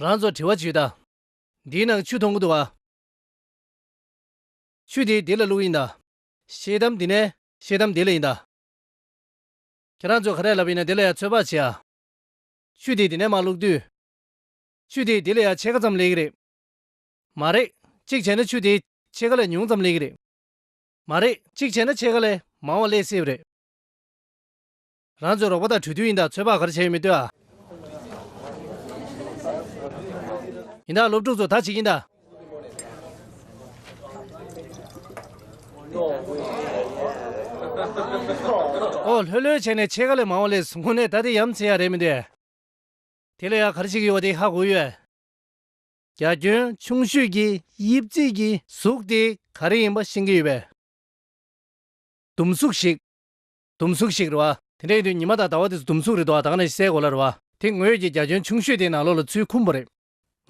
རང་ཚོ་དྲི་བ་བྱུས་ད། འདི་ནང་ཆུ་འཐུང་གི་འདུག་ཨ། ཆུ་དེ་འདི་ལ་བླུགས་ཡིན་ད། ཤེལ་དམ་འདི་ནས་ཤེལ་དམ་འདི་ལ་ཡིན་ད། ཁྱེད་རང་ཚོས་ག་རེ་ལབ་ཡིན་ན་དེ་ལ་ཡང་ཚོད་དཔག་བྱེད་ཨ། ཆུ་དེ་འདི་ནས་མ་བླུགས་དུས། ཆུ་དེ་འདི་ལ་ཡང་ཕྱེད་ཀ་ཙམ་ལེགས་གི་རེད། མ་རེད། གཅིག་བྱས་ན་ཆུ་དེ་ཕྱེད་ཀ་ལས་ཉུང་ཙམ་ལེགས་གི་རེད། མ་རེད། གཅིག་བྱས་ན་ཕྱེད་ཀ་ལས་མང་བ་ལེགས་སྲིད་པ་རེད། རང་ཚོའི་རོགས་པ་དང་གྲོས་མཐུན་ཡིན་དང་ཚོད་དཔག་ག་རེ་བྱས་ཡོད་མེད་ལྟོས་ཨ། ཡིན་དང་སློབ་ཕྲུག་ཚོ་ད་བྱེད་ཀྱིན་དང། ཨོ་ལྷོད་ལྷོད་བྱས་ནས་ཕྱེད་ཀ་ལས་མང་བ་ལས་ཟུང་ནས་ད་དེ་ཡམ་ཚེ་ཡག་རེད་མི་འདོད་ཨ། དེ་ལས་ཡག་ག་རེ་བྱེད་ཀྱི་ཡོད་བ་དེ་ཧ་གོ་ཡོད་ཨ། རྒྱ་ཁྱོན་ཆུང་ཤོས་ཀྱི་དབྱིབས་རྩིས་ཀྱི་གཟུགས་དེ་ག་རེ་ཡིན་པ་ཤེས་ཀྱི་ཡོད་པས། ཟླུམ་གཟུགས་ཤིག། དུམ་གཟུགས་ཤིག་རེད་བ། དེ་འདྲ་ཡིན་དུས་ཉི་མ་དང་ཟླ་བ་དེ་ཚོ་དུམ་གཟུགས་རེད་འདུག་བ་དག་ནས་གསལ་གོ་ལ་རེད་བ། དེ་ངོས་ཀྱི་རྒྱ་ཁྱོན་ཆུང་ཤོས་དེའི་ནང་ལོགས་ལ་ཚུལ་ཁུམ་པོ་རེད།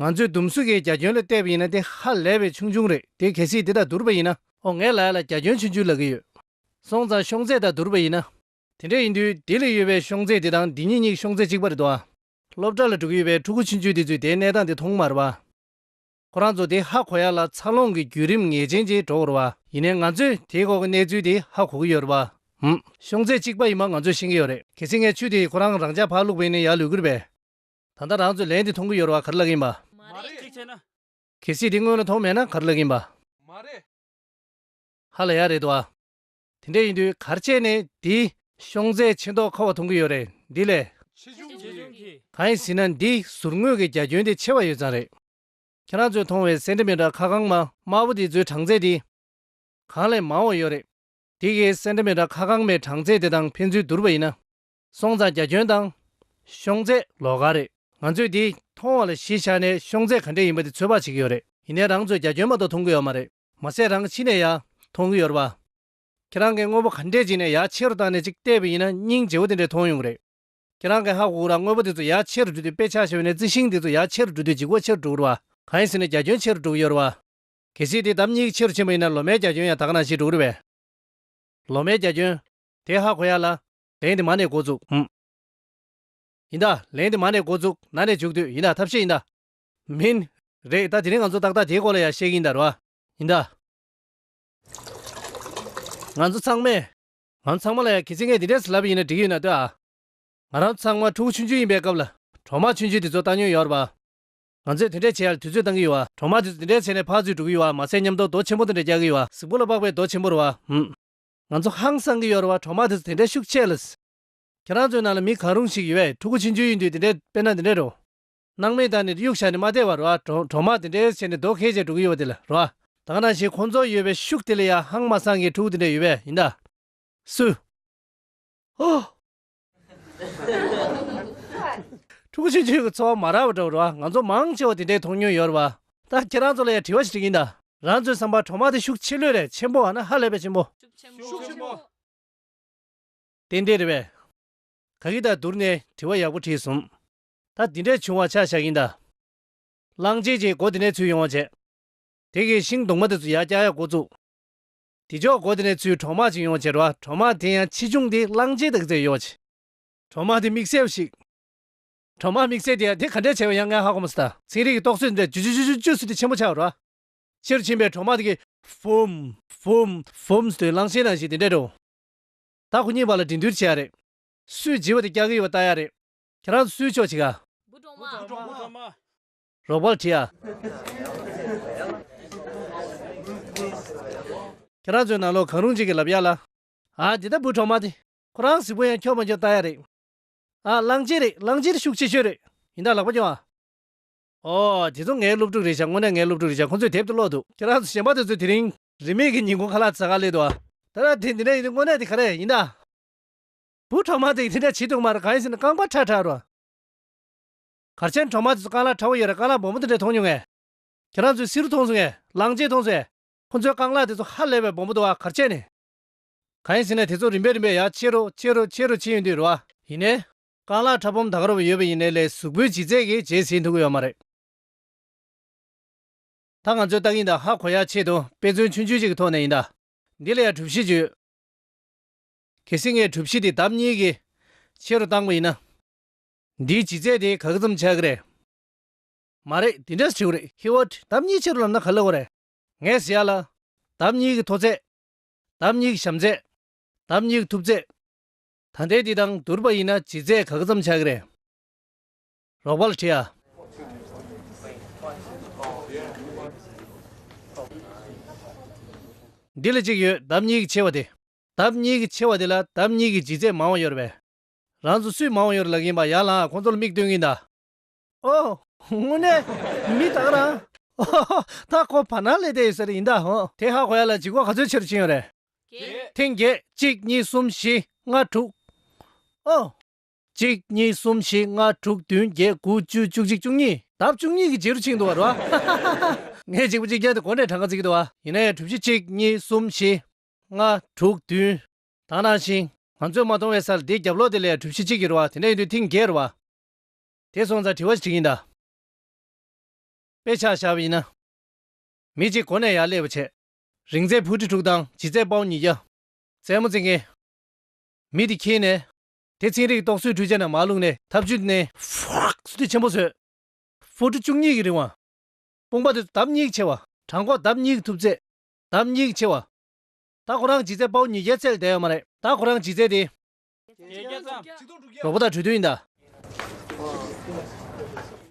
ང་ཚོས་དུམ་གཟུགས་ཀྱི་རྒྱ་ཁྱོན་ལ་བལྟས་པ་ཡིན་ན་དེ་ཧ་ལས་པའི་ཆུང་ཆུང་རེད་དེ་གལ་སྲིད་དེ་དང་བསྡུར་བ་ཡིན་ན། ཨོ་ངའི་ལག་ལ་རྒྱ་ཁྱོན་ཆུང་ཆུང་ལ་གི་ཡོད། སོང་ཙང་ཤོང་ཚད་དང་བསྡུར་བ་ཡིན་ན། དེ་འདྲ་ཡིན་དུས་དེ་ལས་ཡོད་པའི་ཤོང་ཚད་དེ་དང་འདི་གཉིས་གཉིས་ཀྱི་ཤོང་ཚད་གཅིག་པ་རེད་འདུག་བ། སློབ་གྲྭ་ལ་འགྲོ་གི་ཡོད་པའི་ཕྲུ་གུ་ཆུང་ཆུང་དེ་ཚོས་དེའི་གནས་སྟངས་དེ་མཐོང་མ་རེད་བ། ཁོ་རང་ཚོ་དེ་ཧ་གོ་ཡ་ལ་འཚར་ལོངས་ཀྱི་བརྒྱུད་རིམ་ངེས་ཅན་ཅིག་འགྲོ་འོར་བ། ཡིན་ནའི་ང་ཚོས་དེའི་སྐོར་གྱི་གནས་ཚུལ་དེ་ཧ་གོ་གི་ཡོད་རེད་བ། ཤོང་ཚད་གཅིག་པ་ཡིན་པ་ང་ཚོས་ཤེས་ཀྱི་ཡོད་རེད། གལ་སྲིད་ངས་ཆུ་དེ་ཁོ་རང་རང་ཅག་བག་བླུགས་བས་ནས་ཡར་ལུད་གི་རེད་བས། ད་ལྟ་རང་ཚོས་ལན་དེ་མཐོང་གི་ཡོད་རེད་བ་ག་རེ་ལབ་གི་ཡིན་བ། མ་རེད། གཅིག་བྱས་ན། གལ་སྲིད་དེ་སྔོན་ལ་མཐོང་མེད་ན་ག་རེ་ལབ་གི་ཡིན་བ། མ་རེད། ཧ་ལ་ཡག་རེད་བ། དེ་འདྲ་ཡིན་དུས་གར་བྱས་ནས་འདིའི། ཤོང་ཚད་ཆེ་མདོག་ཁ་བ་མཐོང་གི་ཡོད་རེད་འདི་ལས། ཆེ་ཆུང་གི། གང་ཡིན་ཟེར་ན་འདིའི་ཟུར་ངོས་ཀྱི་རྒྱ་ཁྱོན་དེ་ཆེ་བ་ཡོད་ཙང་རེད། ཁྱེད་རང་ཚོས་མཐོང་བའི་སེན་ཏེ་མེ་ཏར་ཁ་གང་དམའ་དམའ་བོ་དེ་ཚོའི་གྲངས་ཚད་དེ། གང་ལས་མང་བ་ཡོད་རེད། དེ་གའི་སེན་ཏེ་མེ་ཏར་ཁ་གང་མའི་གྲངས་ཚད་དེ་དང་ཕན་ཚུན་བསྡུར་བ་ཡིན་ན། སོང་ཙང་རྒྱ་ཁྱོན་དང། ཤོང་ཚད། ལོགས་ག་རེད། ང་ཚོས་འདིའི་མཐོང་བ་ལ་གཞི་བཞག་ནས་ཤོང་ཚད་ག་འདྲས་ཡིན་པ་དེ་ཚོད་དཔག་བྱེད་ཀྱི་ཡོད་རེད། ཡིན་ནའི་རང་ཚོས་རྒྱ་ཁྱོན་མ་གཏོགས་མཐོང་གི་ཡོད་མ་རེད། མ་ཟད་རང་གི་ཕྱི་ནས་ཡང་མཐོང་གི་ཡོད་རེད་པ། ཁྱེད་རང་གིས་དངོས་པོ་ག་འདྲས་བྱས་ནས་ཡག་ཆེ་རུ་བཏང་ནས་ཅིག་བལྟས་པ་ཡིན་ན་སྙིང་རྗེ་བོ་དེ་འདྲས་མཐོང་ཡོང་གི་རེད། ཁྱེད་རང་གིས་ཧ་གོ་གི་ར་དངོས་པོ་དེ་ཚོ་ཡག་ཆེ་རུ་འགྲུལ་དུས་དཔེ་ཆ་ཤོར་བས་ནས་རྩི་ཤིང་དེ་ཚོ་ཡག་ཆེ་རུ་འགྲུལ་དུས་འཇིག་སྒོ་ཆེ་རུ་འགྲོ་གི་རེད་པ། གང་ཡིན་ཟེར་ནས་རྒྱ་ཁྱོན་ཆེ་རུ་འགྲོ་གི་ཡོད་རེད་པ། གལ་སྲིད་དེ་ལྡབ་གཉིས་ཀྱིས་ཆེ་རུ་ཕྱིན་པ་ཡིན་ན་ལོ་མའི་རྒྱ་ཁྱོན་ཡང་དག་ན་ཞིག་འགྲོ་གི་རེད་པས། ལོ་མའི་རྒྱ་ཁྱོན། དེ་ཧ་གོ་ཡག་ལ། ལན་དེ་མ་ནས་འགོ་བཙུགས། ཡིན་ད། ལན་དེ་མ་ནས་འགོ་བཙུགས་ན་ནས་འཇུག་དུས་ཡིན་ད་ཐབས་ཤེས་ཡིན་ད། མིན། རེད་ད་དེ་རིང་ང་ཚོ་ཏག་ཏག་དེའི་སྐོར་ལ་ཡང་བཤད་གིན་གདའ་རོ། ཡིན་གདའ། ང་ཚོ་ཚང་མས། ང་ཚང་མ་ལ་ཡང་གལ་སྲིད་ངས་འདི་འདྲའི་ལབ་ཡིན་ན་འགྲིག་གི་ཡོད་ན་ལྟོས་ཨ། ང་རང་ཚང་མ་ཕྲུ་གུ་ཆུང་ཆུང་ཡིན་པའི་སྐབས་ལ་གྲོག་མ་ཆུང་ཆུང་དེ་ཚོ་བཏང་མྱོང་ཡོད་རེད་པ། ང་ཚོས་དེ་འདྲས་བྱས་ཡར་དུས་ཚོད་བཏང་གི་ཡོད་ཨ། གྲོག་མ་དེ་ཚོ་དེ་འདྲས་བྱས་ནས་ཕར་ཚུར་འགྲོ་གི་ཡོད་ཨ་མ་ཚད་ཉམས་རྟོགས་རྡོ་ཆེན་པོ་དེ་འདྲས་རྒྱག་གི་ཡོད་ཨ། གཟུགས་པོ་ལ་དཔག་པའི་རྡོ་ཆེན་པོ་རེད་བ། ང་ཚོ་ཧང་སང་གི་ཡོད་རེད་བ་གྲོག་མ་དེ་ཚོ་དེ་འདྲས་ཤུགས་ཆེ་ལ། ཁྱེད་རང་ཚོའི་ནང་ལ་མི་གང་རུང་ཞིག་ཡོད་པས་ཕྲུ་གུ་ཆུང་ཆུང་ཡིན་དུས་དེ་འདྲས་དཔེར་ན་དེ་འདྲས་རེད་བ། སྣང་མེད་དང་ནི་དབྱུག་བྱ་ནི་མ་བདེ་བ་རོ། གྲོག་མ་དེ་འདྲའི་ཡོད་ཆེ་ནི་རྡོ་ཁལ་ཅན་དྲུག་གི་ཡོད་པ་དེ་ལ་རོ། དག་སྣང་བཞིན་ཁོང་ཚོ་ཡོད་པའི་ཤུགས་དེ་ལས་ཡང་ཧང་མ་སངས་རྒྱས་དྲུག་དེ་འདྲ་ཡོད་པས་ཡིན་ད། སུ། ཧཱུྃ། དྲུག་ཅུ་བཅུ་གི་ཚོགས་མ་རག་པ་འདྲ་བ་རོ། ང་ཚོ་མང་ཆེ་བ་དེ་འདྲའི་མཐོང་མྱོང་ཡོད་རོ། ད་ཁྱེད་རང་ཚོ་ལ་ཡང་དྲི་བ་ཞིག་ཡིན་ད། རང་ཚོའི་བསམ་པར་གྲོག་མ་དེ་ཤུགས་ཆེ་ལོས་རེད་ཆེན་པོ་བ་ན་ཧ་ལས་པའི་ཆེན་པོ། ཤུགས་ཆེན་པོ། དེ་འདྲས་རེད་བས། ག་གི་ད་བསྡུར་ནས་དྲི་བ་ཡག་པོ་དྲིས་སོང། ད་དེ་འདྲས་བྱུང་བ་ཆ་བཞག་ཡིན་དཱ། གླང་རྗེས་ཀྱིས་སྒོ་དེ་ནས་ཚུར་ཡོང་བར་བྱས། དེ་གིས་ཤིང་སྡོང་མ་དེ་ཚོ་ཡར་བཀྱག་ཡར་བསྐོར་བཙུགས། དེ་ཕྱོགས་སྒོ་དེ་ནས་ཚུར་གྲོག་མ་ཅིག་ཡོང་བར་བྱས་འགྲོ་བ་གྲོག་མ་དེ་ཡང་ཆེ་ཆུང་དེ་གླང་རྗེས་དང་བརྩེ་ཡོད་བྱས། གྲོག་མ་དེ་མིག་སེར་བོ་ཞིག། གྲོག་མ་མིག་སེར་དེ་དེ་ག་འདྲས་བྱས་པ་ཡང་ང་ཧ་གོ་མི་སྲིད་ད། ཚན་རིག་གི་རྟོག་བཟོས་འདྲས་ཇུ་ཇུ་ཇུ་ཇུ་ཇུ་ཟེར་ཏེ་ཆེན་པོ་ཆགས་འགྲོ་བ། ཕྱིར་ཕྱིན་པའི་གྲོག་མ་དེ་གིས། བུམ། བུམ། བུམ། ཟེར་དུས་གླང་ཆེན་ནང་བཞིན་དེ་འདྲས་འགྲོ། ད་ཁོ་གཉིས་བར་ལ་འགྲན་བསྡུར་བྱེད་ཡག་རེད། སུས་བརྗེས་པ་དེ་བཀྱག་གི་ཡོད་པ་ལྟ་ཡག་རེད། ཁྱེད་རང་སུའི་ཕྱོགས་གཅིག་ཨ། སྐུ་གྲོངས་མ། རོགས་པར་བྲིས་ཨ། ཁྱེད་རང་ཚོའི་ནང་ལོག་གང་རུང་གཅིག་གི་ལབ་ཡག་ལ། ཨ་འདི་ལྟ་བུ་གྲོངས་མ་དེ། ཁོ་རང་གཟིགས་པོ་ཡང་ཁྱོག་མ་ཁྱོག་ལྟ་ཡག་རེད། ཨ་གླང་ཆེན་རེད་གླང་ཆེན་ཤུགས་ཆེ་ཤོས་རེད། ཡིན་ད་ལག་པ་རྐྱོང་ཨ། ཨོ། དེ་ཚོ་ངའི་སློབ་ཕྲུག་རེད་བྱ་དངོས་གནས་ངའི་སློབ་ཕྲུག་རེད་བྱ་ཁོང་ཚོས་དེབ་ཏུ་ཀློག་འདུག་ཁྱེད་རང་ཚོ་གཞན་པ་དེ་ཚོས་དེ་རིང། རིན་མེད་ཀྱི་ཉིན་གུང་ཁ་ལག་ཚ་ག་སླེབས་འདུག་ཨ། ད་ལྟ་དེ་འདི་འདྲ་ཡིན་དུས་དངོས་གནས་དེ་ག་རེ་ཡིན་ཨ། བུ་གྲོག་མ་དེ་ཡི་ལྷིང་འདྲ་བྱིས་སྡུག་མ་རེད་གང་ཡིན་ཟེར་ན་རྐང་པ་ཁྲ་ཁྲ་རོ། གར་ཆེན་གྲོག་མ་དེ་ཚོ་རྐང་ལག་ཁྲ་བོ་ཡོད་རེད་རྐང་ལག་སྦོམ་པོ་དེ་འདྲ་མཐོང་མྱོང་ངས། ཁྱེད་རང་ཚོས་བསིལ་རུ་མཐོང་སོང་ངས་ལང་རྗེས་མཐོང་སོང། ཁོ་ཚོའི་རྐང་ལག་དེ་ཚོ་ཧ་ལས་པའི་སྦོམ་པོ་འདུག་ཨ་གར་ཆེན་ནི། གང་ཡིན་ཟེར་ན་དེ་ཚོ་རིམ་པས་རིམ་པས་ཡར་ཕྱེ་རུ་ཕྱེ་རུ་ཕྱེ་རུ་ཕྱིན་ཡོད་དུས་རེད་བ། ཡིན་ནའི། རྐང་ལག་ཁྲ་སྦོམ་དག་རོ་བོ་ཡོད་པ་ཡིན་ནའི་ལས་གཟུགས་པོའི་ལྗིད་ཚད་ཀྱིས་བརྗེད་ཟིན་ཐུབ་ཀྱི་ཡོད་མ་རེད། ད་ང་ཚོས་ལྟ་གིན་དང་ཧ་གོ་ཡར་ཕྱེ་དང་དཔེ་མཚོན་ཆུང་ཆུང་ཞིག་གི་ཐོག་ནས་ཡིན་ད། འདི་ལ་ཡང་གྲུབ་གཞི་བཅུ་ཡོད། གལ་སྲིད་ངའི་གྲུབ་གཞི་དེ་ལྡབ་གཉིས་ཀྱི་ཆེ་རུ་བཏང་བ་ཡིན་ན། འདིའི་ལྗིད་ཚད་དེ་ག་གེ་ཙམ་ཆགས་ཀྱི་རེད། མ་རེད་དེ་འདྲ་བྱེད་གི་རེད། ཧེ་ཝར་ལྡབ་གཉིས་ཆེ་རུ་ལབ་ན་ག་ལ་འོང་རེད། ངས་ཟེར་ཡ་ལ། ལྡབ་གཉིས་ཀྱི་མཐོ་ཚད། ལྡབ་གཉིས་ཀྱི་ཞམ་ཚད། ལྡབ་གཉིས་ཀྱི་ཐུབ་ཚད། ད་ལྟའི་དེ་དང་བསྡུར་བ་ཡིན་ན་ལྗིད་ཚད་ག་གེ་ཙམ་ཆགས་ཀྱི་རེད། རོགས་པ་ལ་དྲིས་ཨ། འདི་ལ་གཅིག་ཡོད་ལྡབ་གཉིས་ཀྱི་ཆེ་བ་དེ། ལྡབ་གཉིས་ཀྱིས་ཆེ་བ་དེ་ལ་ལྡབ་གཉིས་ཀྱིས་ལྗིད་ཚད་མང་བ་གཡོར་བས། རང་ཚོ་སུས་མང་བ་གཡོར་ལག་གིན་པ་ཡར་ལངས་ཁོང་ཚོ་ལ་མིག་སྟོན་གིན་གདའ། ཨོ། དངོས་གནས། མི་དག་རང། ཨོ་ཧོ་ཧོ། ད་ཁོ་བར་སྣང་ལས་བསྡད་ཡོད་ཟེར་རེ་ཡིན་གདའ་ཧོ། དེ་ཧ་གོ་ཡ་ལ་འཇིགས་སྐོག་ག་ཚོད་ཆེ་རུ་ཕྱིན་ཡོད་རེད། བརྒྱད། ཐེངས་བརྒྱད། གཅིག་གཉིས་གསུམ་བཞི་ལྔ་དྲུག། ཨོ། གཅིག་གཉིས་གསུམ་བཞི་ལྔ་དྲུག་བདུན་བརྒྱད་དགུ་བཅུ་བཅུ་གཅིག་བཅུ་གཉིས། ལྡབ་བཅུ་གཉིས་ཀྱིས་ཇེ་རུ་ཕྱིན་འདུག་བ་རོ། ཧ་ཧ་ཧ་ཧ་ཧ། ངས་གཅིག་པུ་གཅིག་བརྒྱབ་སྟེ་གོ་འདྲའི་གྲངས་ཀ་བརྩི་གི་འདུག་བ། ཡིན་ནའི་དྲུག་བཞི་གཅིག་གཉིས་གསུམ་བཞི། ལྔ། དྲུག་བདུན། དང་ནང་བཞིན། ང་ཚོས་མ་མཐོང་བའི་སར་དེའི་རྒྱབ་ལོགས་དེ་ལས་གྲུ་བཞི་གཅིག་གི་རུ་བ་དེ་འདྲ་ཡིན་དུས་ཐིང་རྒྱའི་རུ་བ། དེ་སོང་ཙང་དྲི་བ་ཞིག་ཡིན་ད། དཔེ་ཆ་བཞག་པ་ཡིན་ན། མི་གཅིག་གོ་ནས་ཡར་སླེབས་པ་བྱས། རིང་ཚད་ཕུ་ཁྲི་དྲུག་དང་ལྗིད་ཚད་པའུ་ཉིས་བརྒྱ། རྩེད་མོ་རྩེ་མཁན། མི་དེ་འཁྱིལ་ནས། དེ་ཚིང་རིགས་རྟོག་བཟོའི་འཕྲུལ་ཆས་ནང་མར་བླུགས་ནས་ཐབ་ཆུ་བསྣན། ཧྥུ་ཁྲི་ཆེན་པོ་བཟོས། ཧྥུ་ཁྲི་བཅུ་གཉིས་ཀྱི་རིང་བ། དཔུང་པ་དེ་ཚོ་ལྡབ་གཉིས་ཀྱིས་ཆེ་བ། བྲང་ཁོག་ལྡབ་གཉིས་ཀྱིས་ཐུབ་ཚད། དམ་སྙིང་ཆེ་བ། ད་ཁོ་རང་ཇི་རྩད་དཔའ་བོ་ཉིས་བརྒྱ་རྩད་ལ་བསྡད་ཡོད་མ་རེད། ད་ཁོ་རང་ཇི་རྩད་དེ། གྲོགས་པོ་དང་གྲོས་མཐུན་ཡིན་ད།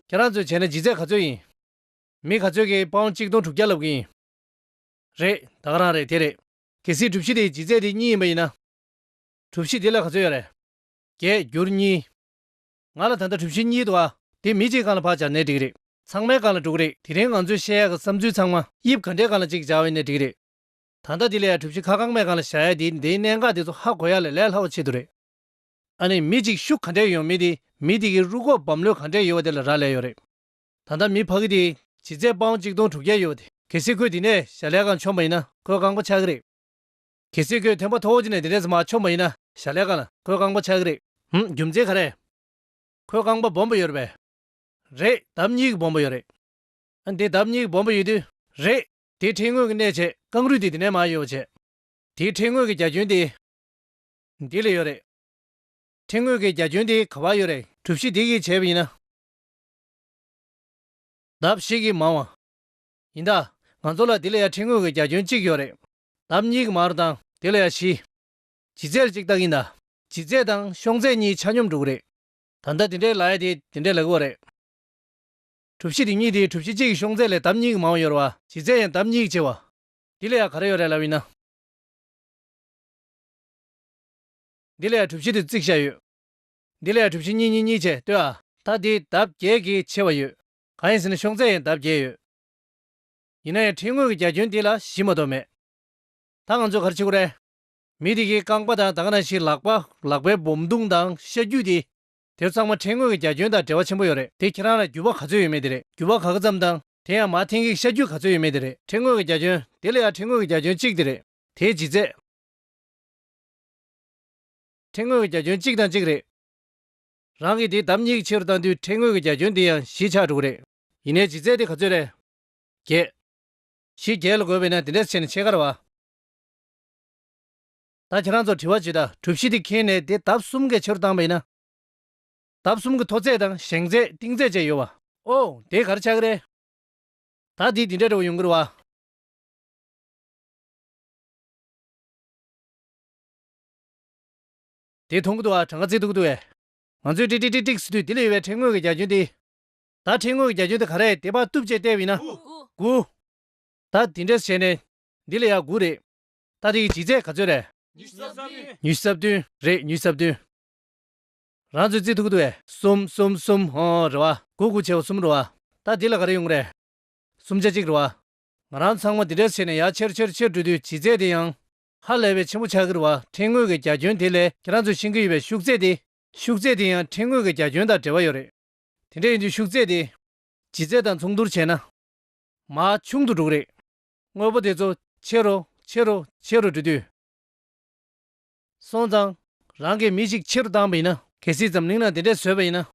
ཁྱེད་རང་ཚོས་བྱས་ན་ཇི་རྩད་ག་ཚོད་ཡིན། མི་ག་ཚོད་ཀྱིས་དཔའ་བོ་གཅིག་སྟོང་དྲུག་བརྒྱ་ལབ་གི་ཡིན། རེད་ད་ག་རང་རེད་དེ་རེད། གལ་སྲིད་གྲུབ་གཞི་དེ་ཇི་རྩད་དེ་གཉིས་ཡིན་པ་ཡིན་ན། གྲུབ་གཞི་དེ་ལ་ག་ཚོད་ཡོད་རེད། བརྒྱད་འགྱུར་གཉིས། ང་ལ་ད་ལྟ་གྲུབ་བཞི་གཉིས་འདུག་ཨ། དེ་མི་གཅིག་གང་ལ་བག་བྱ་ནད་འགྲིག་རེད། ཚང་མའི་གང་ལ་དཀྲུག་རེད། དེ་རིང་ང་ཚོས་བཤད་ཡག་གི་བསམ་ཚུལ་ཚང་མ། དབྱིབས་ག་འདྲའི་གང་ལ་གཅིག་བྱ་བའི་ནད་འགྲིག་རེད། ད་ལྟ་དེ་ལས་ཡག་གྲུབ་བཞི་ཁ་གང་མའི་གང་ལ་བྱ་ཡག་དེའི་འདིའི་གནད་འགག་དེ་ཚོ་ཧ་གོ་ཡག་ལས་ལས་སླ་བོ་ཆེད་དུ་རེད། ཨ་ནི་མི་གཅིག་ཤུགས་ག་འདྲའི་ཡོད་མི་དེ་མི་དེ་གི་རུ་ཁོག་བམ་ལོས་ག་འདྲའི་ཡོད་བ་དེ་ལ་རག་ལས་ཡོད་རེད། ད་ལྟ་མི་ཕ་གི་དེ། བྱི་ཚད་པའང་གཅིག་སྟོང་དྲུག་བརྒྱ་ཡོད་བ་དེ། གལ་སྲིད་ཁོས་དེ་ནས་བྱ་ལས་གང་འཁྱོངས་པ་ཡིན་ན་ཁོས་རྐང་པ་ཆག་གི་རེད། གལ་སྲིད་ཁོས་དེ་མ་ཐོག་འོག་ཅིག་ནས་དེ་འདྲས་མ་ཆོག་མ་ཡིན་ན། ཞྭ་ལས་གང། ཁོའི་རྐང་པ་ཆག་གི་རེད། ཧུམ། རྒྱུ་མཚན་ག་རེད། ཁོའི་རྐང་པ་སྦོམ་པོ་ཡོད་པས། རེད། ལྡབ་གཉིས་ཀྱི་སྦོམ་པོ་ཡོད་རེད། ཨ། དེ་ལྡབ་གཉིས་ཀྱི་སྦོམ་པོ་ཡོད་དུས། རེད། དེའི་ཕྲེང་ངོས་ཀྱི་གནས་བྱེད་རྐང་རུས་དེ་དེ་ནས་མ་ཡོད་པ་བྱས། དེའི་ཕྲེང་ངོས་ཀྱི་རྒྱ་ཁྱོན་དེ། འདི་ལ་ཡོད་རེད། ཕྲེང་ངོས་ཀྱི་རྒྱ་ཁྱོན་དེ་ག་བར་ཡོད་རེད། གྲུ་བཞི་དེ་གིས་བྱས་པ་ཡིན་ན། ལྡབ་བཞི་གིས་མང་བ། ཡིན་ད། ང་ཚོ་ལ་དེ་ལ་ཡང་ཕྲེང་ངོས་ཀྱི་རྒྱ་ཁྱོན་གཅིག་ཡོད་རེད། འདབ་གཉིས་ཀྱི་མར་དང། དེ་ལ་ཡང་བཞི། ཇི་རྩད་གཅིག་བཏགས་ཡིན་ད། ཇི་རྩད་དང་གཤོང་རྩད་གཉིས་ཆ་སྙོམས་དྲུག་རེད། ད་ལྟ་དེ་འདྲའི་ལ་ཡ་དེ་དེ་འདྲའི་ལ་གུ་བ་རེད། གྲུ་བཞི་དེ་གཉིས་དེ་གྲུ་བཞི་གཅིག་གི་གཤོང་རྩད་ལས་འདབ་གཉིས་ཀྱི་མང་བ་ཡོར་བ། ཇི་རྩད་ཡང་འདབ་གཉིས་ཀྱི་ཆེ་བ། འདི་ལ་ཡང་ག་རེ་ཡོར་རེད་ལབ་ཡིན་ན། འདི་ལ་ཡང་གྲུ་བཞི་དེ་རྩིག་བཞག་ཡོད། འདི་ལ་ཡང་གྲུ་བཞི་གཉིས་གཉིས་གཉིས་བྱས་ལྟོས་ཨ། ད་དེ་འདབ་བརྒྱད་ཀྱི་ཆེ་བ་ཡོད། གང་ཡིན་ཟེར་ན་གཤོང་རྩད་ཡང་འདབ་བརྒྱད་ཡོད། ཡིན་ན་ཡང་ཁྲིད་དངོས་ཀྱི་རྒྱ་ཁྱོན་འདི་ལ་གཞི་མ་གཏོགས་མེད། ད་ང་ཚོས་ག་རེ་བྱེད་དགོས་རེད། མི་དེ་གའི་རྐང་པ་དང་ད་ག་ན་ཞིག་ལག་པ། ལག་པའི་སྦོམ་རྡུང་དང་ཤ་རྒྱུས་དེ། དེ་ཚང་མ་ཁྲིད་དངོས་ཀྱི་རྒྱ་ཁྱོན་དང་འབྲེལ་བ་ཆེན་པོ་ཡོད་རེད་དེ་ཁྱེད་རང་ལ་རྒྱུ་བ་ག་ཚོད་ཡོད་མེད་དེ་རེད་རྒྱུ་བ་ག་ག་ཙམ་དང་དེ་ཡང་མ་འཐེན་གིས་ཤ་རྒྱུས་ག་ཚོད་ཡོད་མེད་དེ་རེད་ཁྲིད་དངོས་ཀྱི་རྒྱ་ཁྱོན་དེ་ལ་ཡང་ཁྲིད་དངོས་ཀྱི་རྒྱ་ཁྱོན་གཅིག་དེ་རེད་དེའི་ལྗིད་ཚད། ཁྲིད་དངོས་ཀྱི་རྒྱ་ཁྱོན་གཅིག་དང་གཅིག་རེད། རང་གིས་དེ་ལྡབ་གཉིས་ཀྱི་ཕྱི་རུ་བཏང་དུས་ཁྲིད་དངོས་ཀྱི་རྒྱ་ཁྱོན་དེ་ཡང་གཞིས་ཆགས་དྲུག་རེད། ཡིན་ནའི་ལྗིད་ཚད་དེ་ག་ཚོད་རེད། བརྒྱད། ཞེས་བརྒྱད་ལ་བགོས་པས་ན་དེ་འདྲའི་ཚེ་ནི་ཕྱེད་ཀར་བ། ད་ཁྱེད་རང་ཚོར་དྲི་བ་ཇི་ལྟ། གྲུ་བཞི་དེ་ཁེངས་ནས་དེ་འདབ་གསུམ་གའི་ཕྱི་རུ་བཏང་བས་ན། འདབ་གསུམ་གྱི་མཐོ་ཚད་དང་བཞེངས་ཚད་གཏིང་ཚད་བཅས་ཡོད་བ། ཨོ། དེ་གར་ཆགས་རེད། ད་དེ་དེ་འདྲའི་དྲི་བ་ཡོང་གིར་བ། དེ་མཐོང་གི་འདུག་བ་གྲངས་ཀ་བརྩི་ཐུབ་ཀི་འདུག་བས། ང་ཚོས་ཀྲིག་ཀྲིག་ཀྲིག་ཀྲིག་ཟེར་དུས་དེ་ལ་ཡོད་པའི་ཕྲེང་ངོས་ཀྱི་རྒྱ་ཁྱོན་དེ། ད་ཁྲིད་ངོས་ཀྱི་རྒྱ་ཁྱོན་དེ་ག་རེད་དེ་པར་གཏུབ་བྱས་བལྟས་བས་ན། དགུ། ད་དེ་འདྲས་བྱས་ནས་འདི་ལ་ཡང་དགུ་རེད། ད་དེ་ཡི་ལྗིད་ཚད་ག་ཚོད་རེད། ཉི་ཤུ་རྩ་བདུན། ཉི་ཤུ་རྩ་བདུན་རེད་ཉི་ཤུ་རྩ་བདུན། རང་ཚོའི་རྩིས་ཐུག་གི་འདུག་བས། གསུམ་གསུམ་གསུམ་ཧོ་རེད་བ། དགུ་དགུ་བྱས་བ་གསུམ་རེད་བ། ད་འདི་ལ་ག་རེ་ཡོང་གི་རེད། གསུམ་ཆ་གཅིག་རེད་བ། ང་རང་ཚང་མ་དེ་འདྲས་བྱས་ནས་ཡར་ཆེར་ཆེར་ཆེར་འགྲོ་དུས་ལྗིད་ཚད་དེ་ཡང། ཧ་ལས་པའི་ཆེན་པོ་ཆགས་ཀྱི་རེད་བ་ཁྲིད་ངོས་ཀྱི་རྒྱ་ཁྱོན་དེ་ལས་ཁྱེད་རང་ཚོས་ཤེས་ཀྱི་ཡོད་པའི་ཤུགས་ཚད་དེ། ཤུགས་ཚད་དེ་ཡང་ཁྲིད་ངོས་ཀྱི་རྒྱ་ཁྱོན་དང་འབྲེལ་བ་ཡོད་རེད། དེ་འདྲ་ཡིན་དུས་ཤུགས་རྩེ་སྟེ། ལྗིད་རྩེ་དང་མཚུངས་བསྡུར་བྱས་ན། མ་ཆུང་དུ་འགྲོ་གི་རེད། དངོས་པོ་དེ་ཚོ་ཆེ་རུ་ཆེ་རུ་ཆེ་རུ་འགྲོ་དུས། སོང་ཙང། རང་གིས་མི་ཞིག་ཆེ་རུ་བཏང་བ་ཡིན་ན། གལ་སྲིད་འཛམ་གླིང་ན་དེ་འདྲས་བཟོས་པ་ཡིན་ན།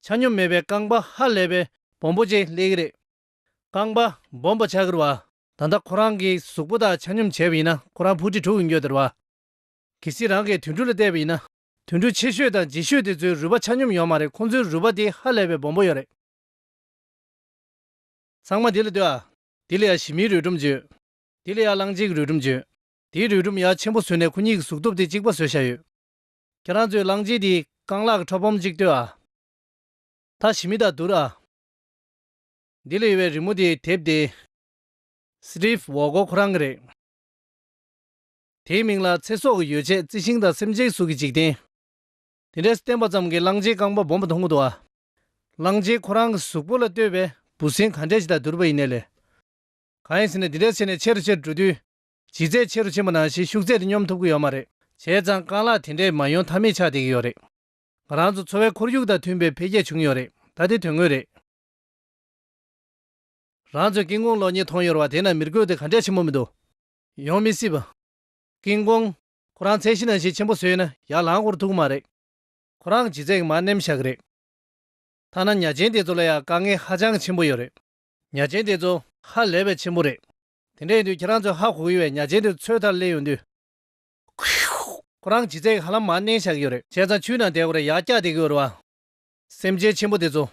ཆ་སྙོམས་མེད་པའི་རྐང་པ་ཧ་ལས་པའི་སྦོམ་པོ་ཅིག་སླེབས་ཀྱི་རེད། རྐང་པ་སྦོམ་པོ་ཆགས་ཀྱི་རུ་བ། ད་ལྟ་ཁོ་རང་གི་གཟུགས་པོ་དག་ཆ་སྙོམས་བྱས་པ་ཡིན་ན་ཁོ་རང་ཕུ་ཁྲི་དྲུག་གི་མགྱོགས་དེ་རུ་བ། གལ་སྲིད་རང་གིས་དུད་འགྲོ་ལ་བལྟས་པ་ཡིན་ན། དུད་འགྲོ་ཆེ་ཤོས་དང་རྗེས་ཤོས་དེ་ཚོའི་རུས་པ་ཆ་སྙོམས་ཡོད་མ་རེད་ཁོང་ཚོའི་རུས་པ་དེ་ཧ་ལས་པའི་སྦོམ་པོ་ཡོད་རེད། ཚང་མ་དེ་ལ་ལྟོས་ཨ། དེ་ལ་ཡ་ཞི་མིའི་རུས་སྒྲོམ་བྱོས། དེ་ལ་ཡ་གླང་གཅིག་གི་རུས་སྒྲོམ་བྱོས། དེའི་རུས་སྒྲོམ་ཡ་ཆེན་པོ་བཟོས་ནས་ཁོ་གཉིས་ཀྱི་གཟུགས་སྟོབས་དེ་གཅིག་པ་བཟོས་བཞག་ཡོད། ཁྱེད་རང་ཚོས་གླང་རྗེས་དེའི་རྐང་ལག་གི་ཁྲོད་སྦོམ་གཅིག་ལྟོས་ཨ། ད་ཞི་མི་དང་བསྡུར་ཨ། དེ་ལ་ཡོད་པའི་རི་མོ་དེ་དེབ་དེ། Steve Waugh ཁོ་རང་གི་རེད། དེའི་མིང་ལ་ཚེ་སྲོག་གི་ཡོ་བྱད་རྩི་ཤིང་དང་སེམས་ཅན་གཟུགས་ཀྱི་འཇིག་རྟེན། དེ་འདྲས་བསྟན་པ་ཙམ་གྱིས་གླང་ཆེན་རྐང་པ་སྦོམ་པོ་མཐོང་མི་ཐུབ་བ། གླང་ཆེན་ཁོ་རང་གི་གཟུགས་པོ་ལ་ལྟོས་པའི་འབུ་སྲིན་ག་འདྲས་ཇི་ལྟར་བསྡུར་བ་ཡིན་ནས་ལས། གང་ཡིན་ཟེར་ནས་འདི་འདྲས་བྱས་ནས་ཆེ་རུ་ཆེ་རུ་འགྲོ་དུས། ལྗིད་ཚད་ཆེ་རུ་ཆེ་མོ་ནང་བཞིན་ཤུགས་ཚད་དེ་སྙོམས་ཐུབ་ཀྱི་ཡོད་མ་རེད། བྱས་ཙང་རྐང་ལག་དེ་འདྲས་མ་ཡོང་ཐབས་མེད་ཆགས་བསྡད་ཀྱི་ཡོད་རེད། ང་རང་ཚོ་འཚོ་བའི་ཁོར་ཡུག་དང་མཐུན་པའི་འཕེལ་རྒྱས་བྱུང་ཡོད་རེད་ད་དེ་དོན་དངོས་རེད། རང་ཚོའི་སྐྱེ་དངོས་ལོ་ཉེས་མཐོང་ཡོད་རེད་བ་དེས་ན་མིར་གོས་དེ་ག་འདྲས་ཆེན་མོ་མི་འདུག། ཡོང་མི་སྲིད་པ། ཀིང་ཀོང། ཁོ་རང་ཚད་ཤི་ན་ཤི་ཆེན་པོ་བཟོས་ན་ཡར་ལངས་ཁོར་ཐུག་མ་རེད། ཁོ་རང་གི་ཚད་མ་ནེམ་བཞག་རེད། ཐ་ན་ཉྭ་ཆེན་དེ་ཚོ་ལ་ཡང་དཀའ་ངལ་ཧ་ཅང་ཆེན་པོ་ཡོད་རེད། ཉྭ་ཆེན་དེ་ཚོ་ཧ་ལས་པའི་ཆེན་པོ་རེད། དེ་འདྲ་ཡིན་དུས་ཁྱེད་རང་ཚོས་ཧ་གོ་གི་བའི་ཉྭ་ཆེན་དེ་ཚོའི་མཐར་སླེབས་ཡོང་དུས། ཁོ་རང་གི་ཚད་ཧ་ལམ་མར་མནན་བཞག་ཡོད་རེད། བྱས་ཙང་ཆུའི་ནང་བསྡད་གོ་རེ་ཡར་བཀྱག་བསྡད་གི་ཡོད་རེད་བ། སེམས་ཅན་ཆེན་པོ་དེ་ཚོ།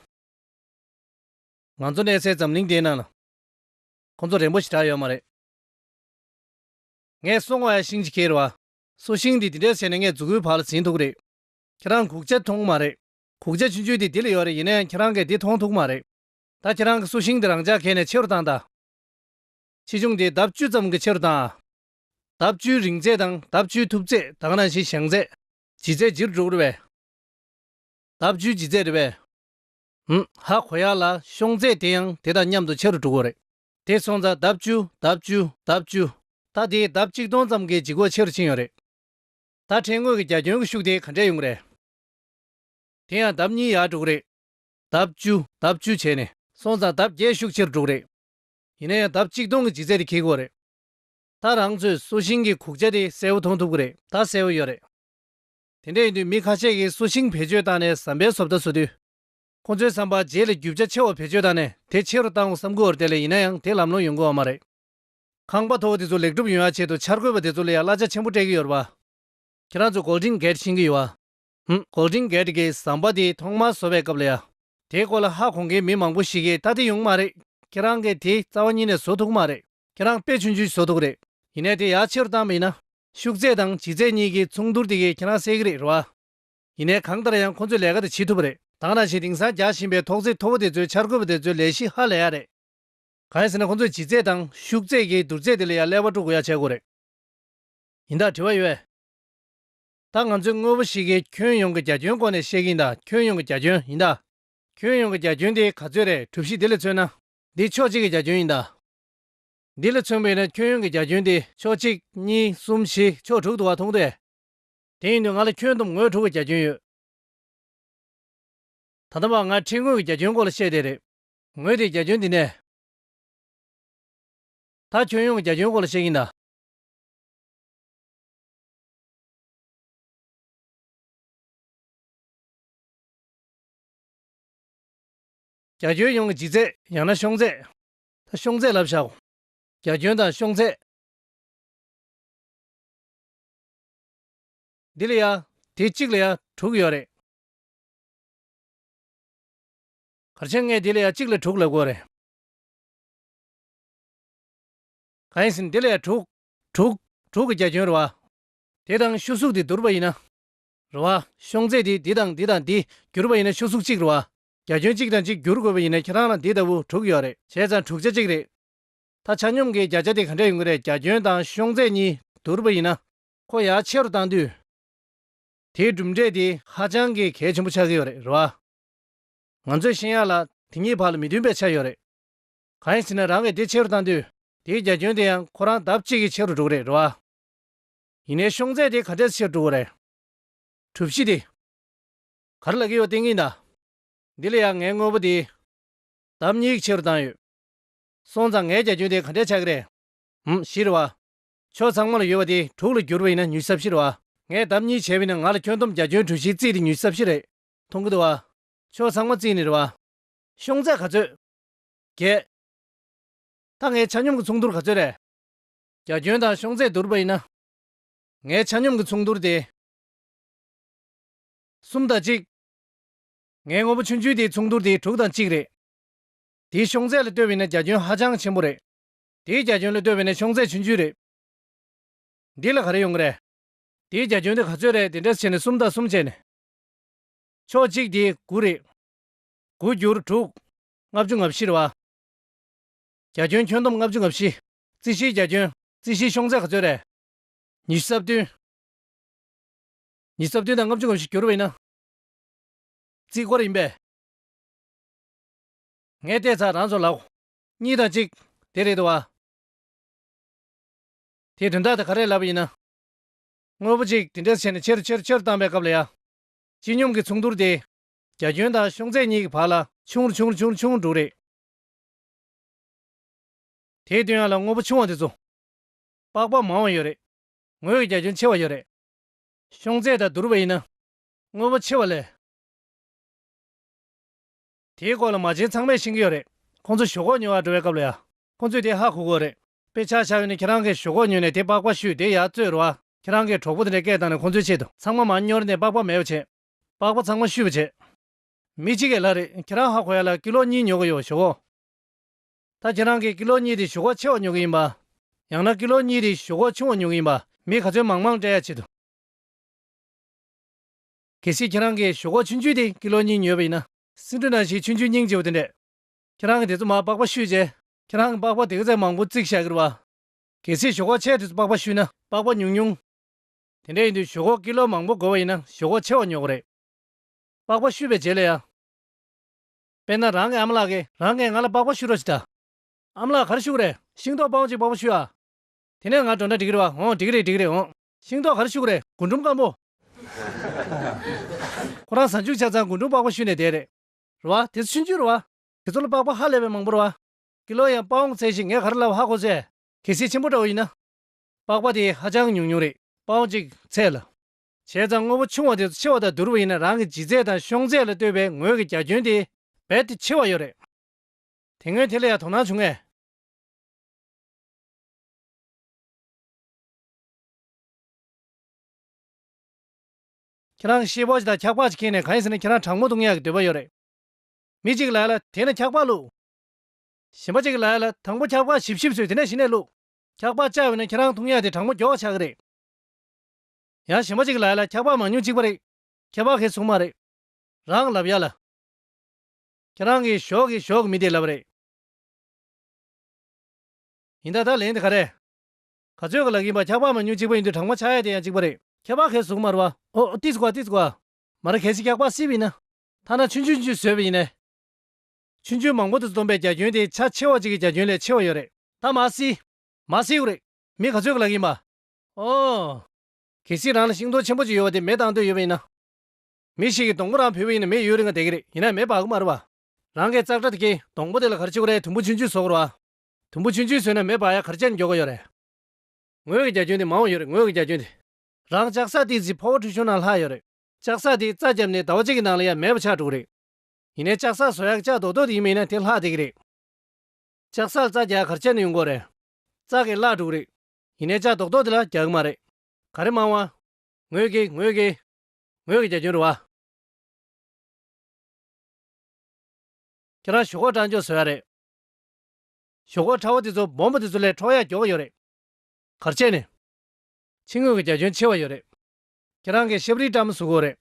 ང་ཚོ་གནས་སའི་འཛམ་གླིང་དེའི་ནང་ལ། ཁོང་ཚོ་རན་པོ་ཞིག་གྲགས་ཡོད་མ་རེད། ངས་སོང་བ་ཡང་ཤིང་གཅིག་ཁྱེར་བ། སོ་ཤིང་འདི་དེ་འདྲས་བྱས་ནས་ངས་རྫུ་གུའི་བར་ལ་འཛིན་ཐུག་རེད། ཁྱེད་རང་གུག་ཆ་མཐོང་མ་རེད། གུག་ཆ་ཆུན་ཆུན་དེ་འདི་ལ་ཡོད་རེད་ཡིན་ན་ཡང་ཁྱེད་རང་གིས་འདི་མཐོང་ཐུག་མ་རེད། ད་ཁྱེད་རང་གིས་སོ་ཤིང་འདི་རང་ཅག་གས་ནས་ཕྱི་རུ་བཏང་ད། ཆེ་ཆུང་དེ་ལྡབ་བཅུ་ཙམ་གྱིས་ཕྱི་རུ་བཏང་ཨ། ལྡབ་བཅུའི་རིང་ཚད་དང་ལྡབ་བཅུའི་ཐུབ་ཚད་དང་རང་བཞིན་བཞེངས་ཚད། ལྗིད་ཚད་ཇི་རུ་འགྲོ་གི་རེད་བས། ལྡབ་བཅུའི་ལྗིད་ཚད་རེད་བས། ཧཧཧ་གོ་ཡག་ལ་ཤོང་ཚད་དེ་ཡང་དེ་དང་མཉམ་དུ་ཕྱི་རུ་འགྲོ་གི་རེད། དེ་སོང་ཙང་ལྡབ་བཅུ་ལྡབ་བཅུ་ལྡབ་བཅུ། ད་དེའི་ལྡབ་གཅིག་སྟོང་ཙམ་གྱིས་འཇིགས་སྐོག་ཆེ་རུ་ཕྱིན་ཡོད་རེད། ད་ཕྲན་ངོས་ཀྱི་རྒྱ་ཁྱོན་གྱི་ཤུགས་དེ་ག་འདྲས་ཡོང་གི་རེད། དེ་ཡང་ལྡབ་གཉིས་ཡར་དྲུག་རེད། ལྡབ་བཅུ་ལྡབ་བཅུ་བྱས་ནས། སོང་ཙང་ལྡབ་བརྒྱད་ཤུགས་ཆེ་རུ་དྲུག་རེད། ཡིན་ན་ཡང་ལྡབ་གཅིག་སྟོང་གི་འཇིགས་ཚད་དེ་འཁེལ་གི་འོ་རེད། ད་རང་ཚོས་སོ་ཤིང་གི་གུག་ཆ་དེ་གསལ་བོ་མཐོང་ཐུབ་གི་རེད། ད་གསལ་བོ་ཡོད་རེད། དེ་འདྲས་ཡིན་དུས་མི་ཁ་ཤས་ཀྱིས་སོ་ཤིང་བེད་སྤྱོད་བཏང་ནས་ཟམ་པའི་བཟོ་ལྟ་བཟོ་དུས། ཁོང་ཚོའི་བསམ་པ་རྗེས་ལས་རྒྱུ་ཆ་ཆེ་བ་བེད་སྤྱོད་བཏང་ནས་དེ་ཆེ་རུ་བཏང་བསམ་དགོས་བར་དེ་ལས་ཡིན་ན་ཡང་དེ་ལམ་ལྷོང་ཡོང་དགོས་བ་མ་རེད། ཁང་པ་མཐོ་བོ་དེ་ཚོ་ལེགས་གྲུབ་ཡོང་ཡ་ཆེད་དུ་འཆར་འགོད་པ་དེ་ཚོ་ལ་ཡང་གླ་ཆ་ཆེན་པོ་སྤྲད་ཀྱི་ཡོད་རེད་པ། ཁྱེད་རང་ཚོ Golden Gate ཤེས་ཀྱི་ཡོད་བ། ཧུམ Golden Gate གི་ཟམ་པ་དེ་ཐོག་མར་བཟོ་བའི་སྐབས་ལ་ཡ། དེའི་སྐོར་ལ་ཧ་གོ་མཁན་མི་མང་པོ་ཞིག་གིས་ད་དེ་ཡོང་གི་མ་རེད། ཁྱེད་རང་གིས་དེ་རྩ་བ་ཉིད་ནས་བཟོ་ཐུབ་ཀྱི་མ་རེད། ཁྱེད་རང་དཔེ་ཆུང་ཆུང་བཟོ་ཐུབ་ཀྱི་རེད། ཡིན་ནས་དེ་ཡ་ཆེ་རུ་བཏང་བ་ཡིན་ན། ཤུགས་ཚད་དང་ལྗིད་ཚད་གཉིས་ཀྱི་མཚུངས་བསྡུར་དེ་གས་ཁྱེད་རང་སེལ་གྱི་རེད་རེད་བ། ཡིན་ནའི་གང་ལྟར་ཡང་ཁོ་ཚོས་ལས་ཀ་དེ་བྱེད་ཐུབ་པ་རེད། དང་ནང་བཞིན་དེང་སང་རྒྱག་བཞིན་པའི་ཐོག་བརྩེགས་མཐོ་པོ་དེ་ཚོའི་འཆར་འགོད་པ་དེ་ཚོའི་ལས་གཞི་ཧ་ལས་ཡག་རེད། གང་ཡིན་ཟེར་ན་ཁོ་ཚོས་ལྗིད་ཚད་དང་ཤུགས་ཚད་ཀྱིས་བསྡུར་ཚད་དེ་ལས་ཡག་ཀླད་པ་དཀྲུག་དགོས་ཡག་བྱེད་དགོས་རེད། ཡིན་ད་དྲི་བ་ཡོད། ད་ང་ཚོས་དངོས་པོ་ཞིག་གིས་ཁྱོན་ཡོངས་ཀྱི་རྒྱ་ཁྱོན་སྐོར་ནས་བཤད་ཀྱི་ཡིན་ད་ཁྱོན་ཡོངས་ཀྱི་རྒྱ་ཁྱོན་ཡིན་ད། ཁྱོན་ཡོངས་ཀྱི་རྒྱ་ཁྱོན་དེ་ག་ཚོད་རེད་གྲུབ་གཞི་དེ་ལས་མཚོན་ན། འདི་ཕྱོགས་གཅིག་གི་རྒྱ་ཁྱོན་ཡིན་ད། འདི་ལས་མཚོན་པའི་ན་ཁྱོན་ཡོངས་ཀྱི་རྒྱ་ཁྱོན་དེ་ཕྱོགས་གཅིག་གཉིས་གསུམ་བཞི་ཕྱོགས་དྲུག་ཏུ་བ་མཐོང་སྟེ། དེ་ཡིན་དུས་ང་ལ་ཁྱོན་བསྡོམས་ངོས་དྲུག་གི་རྒྱ་ཁྱོན་ཡོད། ད་ལྟ་བར་ང་ཁྲིད་ངོས་ཀྱི་རྒྱ་ཁྱོན་སྐོར་ལ་བཤད་བསྡད་རེད། ངོས་དེའི་རྒྱ་ཁྱོན་འདི་ནས། ད་ཁྱོན་ཡོངས་ཀྱི་རྒྱ་ཁྱོན་སྐོར་ལ་བཤད་ཀྱིན་གདའ། རྒྱ་ཁྱོན་ཡོངས་ཀྱི་འཇིག་ཚད་ཡང་ན་ཤོང་ཚད། ད་ཤོང་ཚད་ལབ་བཞག་གོ། རྒྱ་ཁྱོན་དང་ཤོང་ཚད། འདི་ལ་ཡང་དེ་གཅིག་ལ་ཡང་དྲུག་ཡོད་རེད། གར་ཆེན་ལྔས་འདི་ལ་ཡང་གཅིག་ལ་དྲུག་ལ་དགོས་རེད། གང་ཡིན་ཟིན་འདི་ལ་ཡང་དྲུག། དྲུག། དྲུག་གི་རྒྱ་ཁྱོན་རུ་བ། དེ་དང་ཤུ་གཟུགས་འདི་བསྡུར་བ་ཡིན་ན། རུ་བ། ཤོང་ཚད་དེ་འདི་དང་འདི་དང་འདི་བསྒྱུར་བ་ཡིན་ན་ཤུ་གཟུགས་གཅིག་རུ་བ། རྒྱ་ཁྱོན་གཅིག་དང་གཅིག་བསྒྱུར་དགོས་པ་ཡིན་ན་ཁྱེད་རང་ལ་འདི་ལྟ་བུ་དྲུག་ཡོད་རེད། བྱས་ཙང་དྲུག་ཆ་གཅིག་རེད། ད་ཆ་སྙོམས་ཀྱི་བརྒྱ་ཆ་དེ་ག་འདྲ་ཡོང་གི་རེད་རྒྱ་ཁྱོན་དང་གཤོང་ཚད་གཉིས་བསྡུར་བ་ཡིན་ན། ཁོ་ཡར་ཆེ་རུ་བཏང་དུས། དེའི་གྲུབ་འབྲས་དེ་ཧ་ཅང་གི་གལ་ཆེན་པོ་ཆགས་ཀྱི་ཡོད་རེད་བ། ང་ཚོས་ཤེས་ཡག་ལ་དེ་གཉིས་བར་ལ་མི་མཐུན་པའི་ཆ་ཡོད་རེད། གང་ཡིན་ཟེར་ན་རང་གི་དེ་ཆེ་རུ་བཏང་དུས་དེའི་རྒྱ་ཁྱོན་དེ་ཡང་ཁོ་རང་ལྡབ་གཅིག་གིས་ཆེ་རུ་འགྲོ་གི་རེད་བ། ཡིན་ནའི་གཤོང་ཚད་དེ་ག་འདྲས་ཆེ་རུ་འགྲོ་བ་རེད། གྲུབ་གཞི་དེ། ག་རེ་ལབ་ཀྱི་ཡོད་བལྟས་ཀྱིན་གདའ། འདི་ལ་ཡང་ངའི་དངོས་པོ་དེ། ལྡབ་གཉིས་གིས་ཆེ་རུ་བཏང་ཡོད། སོང་ཙང་ངའི་རྒྱ་ཁྱོན་དེ་ག་འདྲས་ཆགས་ཀྱི་རེད། འམ། བཞི་རེད་བ། ཕྱོགས་ཚང་མ་ལ་ཡོད་པ་དེ་དྲུག་ལ་བསྒྱུར་བ་ཡིན་ན་ཉུལ་ས་བཞི་རེད་བ། ངས་ལྡབ་གཉིས་བྱས་བས་ན་ང་ལ་ཁྱོན་བསྡོམས་རྒྱ་ཁྱོན་གྲུ་བཞིའི་རྩིས་དེ་ཉུལ་ས་བཞི་རེད། མཐོང་གི་འདུག་བ། ཕྱོགས་ཚང་མ་རྩིས་ནི་རེད་བ། ཤོང་ཚད་ག་ཚོད། བརྒྱད། ད་ངའི་ཆ་སྙོམས་ཀྱི་མཚུངས་བསྡུར་ག་ཚོད་རེད། རྒྱ་ཁྱོན་དང་ཤོང་ཚད་བསྡུར་བ་ཡིན་ན། ངའི་ཆ་སྙོམས་ཀྱི་མཚུངས་བསྡུར་དེ། གསུམ་དང་གཅིག། ངའི་དངོས་པོ་ཆུན་ཆུན་དེའི་མཚུངས་བསྡུར་དེ་དྲུག་དང་གཅིག་རེད། དེའི་ཤོང་ཚད་ལ་ལྟོས་པས་ན་རྒྱ་ཁྱོན་ཧ་ཅང་ཆེན་པོ་རེད། དེའི་རྒྱ་ཁྱོན་ལ་ལྟོས་པས་ན་ཤོང་ཚད་ཆུང་ཆུང་རེད། འདི་ལ་ག་རེ་ཡོང་གི་རེད། དེའི་རྒྱ་ཁྱོན་དེ་ག་ཚོད་རེད་དེ་འདྲ་བྱས་ནས་སུམ་རྟགས་གསུམ་བྱས་ནས། ཕྱོགས་གཅིག་དེ་དགུ་རེད། དགུ་བསྒྱུར་དྲུག། ལྔ་བཅུ་ང་བཞི་རེད་བ། རྒྱ་ཁྱོན་ཁྱོན་བསྡོམས་ལྔ་བཅུ་ང་བཞི། རྩིས་གཞིའི་རྒྱ་ཁྱོན། རྩིས་གཞིའི་ཤོང་ཚད་ག་ཚོད་རེད། ཉི་ཤུ་རྩ་བདུན། ཉི་ཤུ་རྩ་བདུན་དང་ལྔ་བཅུ་ང་བཞི་བསྒྱུར་བས་ན། རྩིས་སྐོར་ཡིན་པས། ངས་བལྟས་ཚར་རང་ཚོ་ལགས། གཉིས་དང་གཅིག། དེ་རེད་དོ་ཨ། དེའི་དོན་དག་དེ་ག་རེ་ལབ་པ་ཡིན་ན། དངོས་པོ་གཅིག་དེ་འདྲས་བྱས་ནས་ཕྱིར་ཕྱིར་ཕྱིར་བཏང་པའི་སྐབས་ལ་ཡ། སྤྱི་སྙོམས་ཀྱི་མཚུངས་བསྡུར་དེ། རྒྱ་ཁྱོན་དང་ཤོང་ཚད་གཉིས་ཀྱི་བར་ལ། ཆུང་རུ་ཆུང་རུ་ཆུང་རུ་ཆུང་རུ་འགྲོ་རེད། དེའི་དོན་ཡང་ལ་དངོས་པོ་ཆུང་བ་དེ་ཚོ། པགས་པ་མང་བ་ཡོད་རེད། ངོས་ཀྱི་རྒྱ་ཁྱོན་ཆེ་བ་ཡོད་རེད། ཤོང་ཚད་དང་བསྡུར་བ་ཡིན་ན། དངོས་པོ་ཆེ་བ་ལས། དེའི་སྐོར་ལ་མ་བྱན་ཚང་མས་ཤེས་ཀྱི་ཡོད་རེད། ཁོང་ཚོ་ཞོག་ཁོག་ཉོ་བར་འགྲོ་བའི་སྐབས་ལ་ཡང། ཁོང་ཚོས་དེ་ཧ་གོ་དགོས་རེད། དཔེ་ཆ་ཆགས་ཡོད་ནི་ཁྱེད་རང་གིས་ཞོག་ཁོག་ཉོས་ནས་དེ་པགས་པ་བཤུས་དེ་ཡར་བཙོས་རོགས་ཨ། ཁྱེད་རང་གིས་གྲོགས་པོ་དེ་འདྲའི་སྐད་བཏང་ནས་ཁོང་ཚོའི་ཆེད་དུ། ཚང་མ་མ་སྙོར་ནས་པགས་པ་མེད་པ་བྱེད། པགས་པ་ཚང་མ་བཤུས་པ་བྱེད། མི་གཅིག་གི་ལྷ་རེད་ཁྱེད་རང་ཧ་གོ་ཡ་ལ་ཀི་ལོ་གཉིས་ཉོ་གི་ཡོད་ཞོག་ཁོག། ད་ཁྱེད་རང་གིས་ཀི་ལོ་གཉིས་དེ་ཞོག་ཁོག་ཆེ་བ་ཉོ་གི་ཡིན་པ། ཡང་ན་ཀི་ལོ་གཉིས་དེ་ཞོག་ཁོག་ཆུང་བ་ཉོ་གི་ཡིན་པ་མི་ག་ཚོད་མང་མང་སྤྲད་ཡ་བྱེད་དུ། གལ་སྲིད་ཁྱེད་རང་གིས་ཞོག་ཁོག་ཆུན་ཆུན་དེ་ཀི་ལོ་གཉིས་ཉོས་པ་ཡིན་ན། སྲིན་འབྲུ་ནང་བཞིན་ཆུན་ཆུན་སྙིང་རྗེ་བོ་དེ་འདྲས། ཁྱེད་རང་གིས་དེ་ཚོ་མར་པགས་པ་བཤུས་རྗེས། ཁྱེད་རང་གིས་པགས་པ་དེ་ག་ཚད་མང་པོ་བརྩིགས་བཞག་གིར་བ། གལ་སྲིད་ཞོག་ཁོག་ཆེ་དེ་ཚོ་པགས་པ་བཤུས་ན་པགས་པ་ཉུང་ཉུང། དེ་འདྲས་ཡིན་དུས་ཞོག་ཁོག་ཀི་ལོ་མང་པོ་བགོ་བ་ཡིན་ན་ཞོག་ཁོག་ཆེ་བ་ཉོ་དགོས་རེད། པགས་པ་བཤུས་པའི་རྗེས་ལ་ཡང། དཔེར་ན་རང་གི་ཨ་མ་ལགས་ཀྱིས་རང་གིས་ང་ལ་པགས་པ་བཤུ་རོགས་ཞེས་བྱ། ཨ་མ་ལགས་གར་བཤུ་གི་རེད། ཤིང་ཏོག་སྤང་བྱེད་པགས་པ་བཤུས་ཨ། དེ་ནས་ང་གྲོང་སྒྲ་འགྲིག་གིར་བ། འོང་འགྲིག་གི་རེད་འགྲིག་གི་རེད་འོང། ཤིང་ཏོག་གར་བཞུགས་རེད་རྒུན་འབྲུམ་སྐམ་པོ། ཁོ་རང་གཟའ་མཇུག་ཆ་ཚང་རྒུན་འབྲུམ་པགས་པ་བཤུས་ནས་བསྡད་རེད། རེད་བ། དེ་ཚོ་ཆུན་ཆུན་རེད་བ། དེ་ཚོ་ལ་པགས་པ་ཧ་ལས་པའི་མང་པོ་རེད་བ། ཀི་ལོ་ཡང་དཔའ་འོང་ཚད་ཞིག་ངས་ག་རེ་ལབ་ཧ་གོ་ཚེ། གལ་སྲིད་ཆེན་པོ་འདྲ་བོ་ཡིན་ན། པགས་པ་དེ་ཧ་ཅང་ཉུང་ཉུང་རེད། དཔའ་འོང་ཅིག་ཚད་ལ། བྱས་ཙང་དངོས་པོ་ཆུང་བ་དེ་ཚོ་ཆེ་བ་དང་བསྡུར་བ་ཡིན་ན་རང་གི་ལྗིད་ཚད་དང་གཤོང་ཚད་ལ་ལྟོས་པའི་ངོས་ཀྱི་རྒྱ་ཁྱོན་དེ་རྦད་དེ་ཆེ་བ་ཡོད་རེད། དེ་སྔོན་དེ་ལ་ཡང་དོ་སྣང་བྱུང་ངེས། ཁྱེད་རང་ཤེས་པོ་ཅིག་དང་འཁྱག་པག་ཅིག་ཁྱེར་ནས་གང་ཡིན་ཟེར་ན་ཁྱེད་རང་དྲང་མོ་འདུག་ཉལ་གི་འདོད་པ་ཡོད་རེད། མི་གཅིག་གི་ལག་ལ་དེད་ནས་འཁྱག་པག་བླུགས། གཞན་པ་གཅིག་གི་ལག་ལ་དང་པོ་འཁྱག་པག་ཞིབ་ཞིབ་བཟོས་དེ་ནས་གཞི་ནས་བླུགས། འཁྱག་པག་བཅག་འོས་ན་ཁྱེད་རང་ཐུག་ཉལ་ཏེ་དྲང་མོ་འགྱོག་ཆགས་གི་རེད། ཡང་གཞན་པ་གཅིག་གི་ལག་ལ་འཁྱག་པག་མང་ཉུང་གཅིག་པ་རེད། ཁྱད་པར་ཁེ་སུ་མ་རེད། རང་ལབ་ཡ་ལ། ཁྱེད་རང་གིས་ཞོག་གིས་ཞོག་གི་མི་དེ་ལབ་རེད། ཡིན་ད་ད་ལན་དེ་ག་རེད། ག་ཚོད་ཀྱི་ལག་ཡིན་པ་ཁྱག་པགས་མ་ཉུང་གཅིག་པ་ཡིན་དུས་གྲང་མ་ཆག་ཡ་དེ་ཡང་གཅིག་པ་རེད། ཁྱག་པགས་ཁའི་གཟུགས་དམར་བ། ཨོ་ཨོ་ཏི་ཙི་ཀ་ཏི་ཙི་ཀ། མ་ར་གལ་སྲིད་ཁྱག་པགས་བསིལ་བ་ཡིན་ན། ཐ་ན་ཆུན་ཆུན་ཆུན་བཟོས་པ་ཡིན་ནས། ཆུན་ཆུན་མང་པོ་དུ་བསྡོམས་པའི་རྒྱ་ཁྱོན་དེ་ཆ་ཆེ་བ་གཅིག་གི་རྒྱ་ཁྱོན་ལས་ཆེ་བ་ཡོད་རེད། ད་མ་བསིལ། མ་བསིལ་བོ་རེད། མི་ག་ཚོད་ཀྱི་ལག་ཡིན་པ། ཨོ། གལ་སྲིད་རང་ལ་ཤིང་སྡོང་ཆེན་པོ་གཅིག་ཡོད་པ་དེ་མེ་བཏང་འདོད་ཡོད་པ་ཡིན་ན། མི་ཞིག་གིས་སྡོང་པོ་རང་ཕུད་པ་ཡིན་ན་མེ་ཡོད་རེ་འགའ་བསྡད་ཀྱི་རེད་ཡིན་ནའི་མེ་བག་མར་བ། རང་གིས་ཙག་སྒྲ་དེ་གས་སྡོང་པོ་དེ་ལ་གར་ཕྱི་གོ་རེ་དུམ་བུ་ཆུན་ཆུན་བཟོ་དགོས་ར། དུམ་བུ་ཆུན་ཆུན་ཟོས་ན་མེ་སྦར་ཡ་གར་སྤྱད་ནས་འགྱོ་ག་ཡོད་རེད། ངོས་ཀྱི་རྒྱ་ཁྱོན་དེ་མང་བོ་ཡོད་རེད་ངོས་ཀྱི་རྒྱ་ཁྱོན་དེ། རང་ལྕགས་ཟྭ་དེའི་རྫི་ཕོ་བོ་ཁྲུས་ཆུང་ནང་ལྷག་ཡོད་རེད། ལྕགས་ཟྭ་དེ་རྩ་བརྒྱབ་ནས་ཟླ་བ་གཅིག་གི་ནང་ལ་ཡ་མེད་པ་ཆགས་འགྲོ་གི་རེད། ཡིན་ནའི་ལྕགས་ཟྭ་ཟོ་ཡག་ལྕགས་རྡོག་རྡོག་དེ་ཡིན་མིན་ན་དེ་ལྷག་བསྡད་གི་རེད། ལྕགས་ཟྭ་ལ་རྩ་བརྒྱག་ཡ་གར་སྤྱད་ནས་ཡོང་དགོས་རེད། རྩ་གས་བརླག་འགྲོ་གི་རེད། ཡིན་ནའི་ལྕགས་རྡོག་རྡོག་དེ་ལ་རྒྱག་གི་མ་རེད། ག་རེ་མང་བ། ངོས་ཀྱི་ངོས་ཀྱི། ངོས་ཀྱི་རྒྱ་ཁྱོན་རེད་བ། ཁྱེད་རང་ཞོག་ཁོག་སྐྲངས་འགྱོ་ཟོ་ཡ་རེད། ཞོག་ཁོག་ཁྲ་བོ་དེ་ཚོ་སྦོམ་པོ་དེ་ཚོ་ལས་འཕྲོག་ཡག་འགྱོག་གི་ཡོད་རེད། གར་བྱས་ནས། ཕྱི་ངོས་ཀྱི་རྒྱ་ཁྱོན་ཆེ་བ་ཡོད་རེད། ཁྱེད་རང་གིས་ཤབ་རིའི་སྐྲ་མི་བཟོ་དགོས་རེད།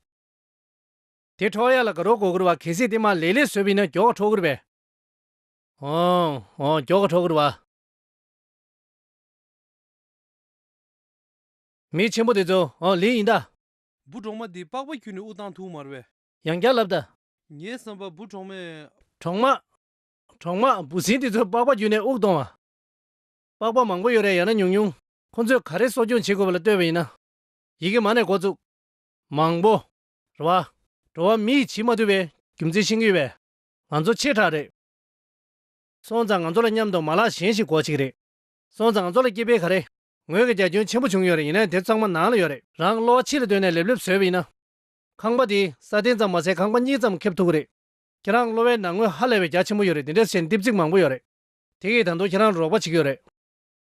དེ་འཕྲོག་ཡག་ལ་དགའ་རོགས་གོ་དགོས་བ་གལ་སྲིད་དེ་མ་ལེགས་ལེགས་བཟོས་པ་ཡིན་ན་འགྱོག་ག་འཕྲོག་དགོས་རེད། ཨོང། ཨོང་འགྱོག་ག་འཕྲོག་དགོས་རེད་བ། མི་ཆེན་པོ་དེ་ཚོ་ཨོང་ལིས་ཡིན་ད། འབུ་གྲོག་མ་འདི་པགས་པ་ཁྱུ་ནས་དབུགས་བཏང་ཐུག་མར་བས། ཡང་བསྐྱར་ལབ་ད། ངའི་བསམ་པར་འབུ་གྲོག་མས། གྲོག་མ། གྲོག་མ་འབུ་སྲིན་དེ་ཚོས་པགས་པ་བརྒྱུད་ནས་དབུགས་གཏོང་བ། པགས་པ་མང་པོ་ཡོད་རེད་ཡང་ན་ཉུང་ཉུང། ཁོ་ཚོས་ག་རེ་གསོ་སྐྱོང་བྱེད་དགོས་པ་ལ་ལྟོས་པ་ཡིན་ན། ཡི་གེ་མ་ནས་འགོ་བཙུགས། མང་པོ། རེད་བ། འགྲོ་བ་མི་ཡིས་བྱིས་མ་ཐུབ་པའི་རྒྱུ་མཚན་ཤེས་ཀྱི་ཡོད་པས། ང་ཚོ་ཆེ་ཕྲ་རེད། སོང་ཙང་ང་ཚོ་ལ་མཉམ་དུ་མ་ལག་གཞན་ཞིག་དགོས་ཆེ་གི་རེད། སོང་ཙང་ང་ཚོ་ལ་སྐྱེས་འཕེལ་ག་རེ། ངོས་ཀྱི་རྒྱ་ཁྱོན་ཆེན་པོ་བྱུང་ཡོད་རེད་ཡིན་ནའི་དེབ་ཚང་མ་ནང་ལ་ཡོད་རེད། རང་གི་གློ་བ་ཕྱི་ལ་བཏོན་ནས་ལེབ་ལེབ་བཟོས་པ་ཡིན་ན། ཁང་པ་དེས་ས་སྟེང་ཙམ་མ་ཟད་ཁང་པ་གཉིས་ཙམ་ཁེབས་ཐུབ་ཀྱི་རེད། ཁྱེད་རང་གློ་བའི་ནང་ངོས་ཧ་ལས་པའི་རྒྱ་ཆེན་པོ་ཡོད་རེད་དེ་འདྲས་བྱས་ནས་ལྟིབ་ཚིག་མང་པོ་ཡོད་རེད། དེ་གིས་ད་དུང་ཁྱེད་རང་རུ་རོགས་པ་བྱེད་ཀྱི་ཡོད་རེད།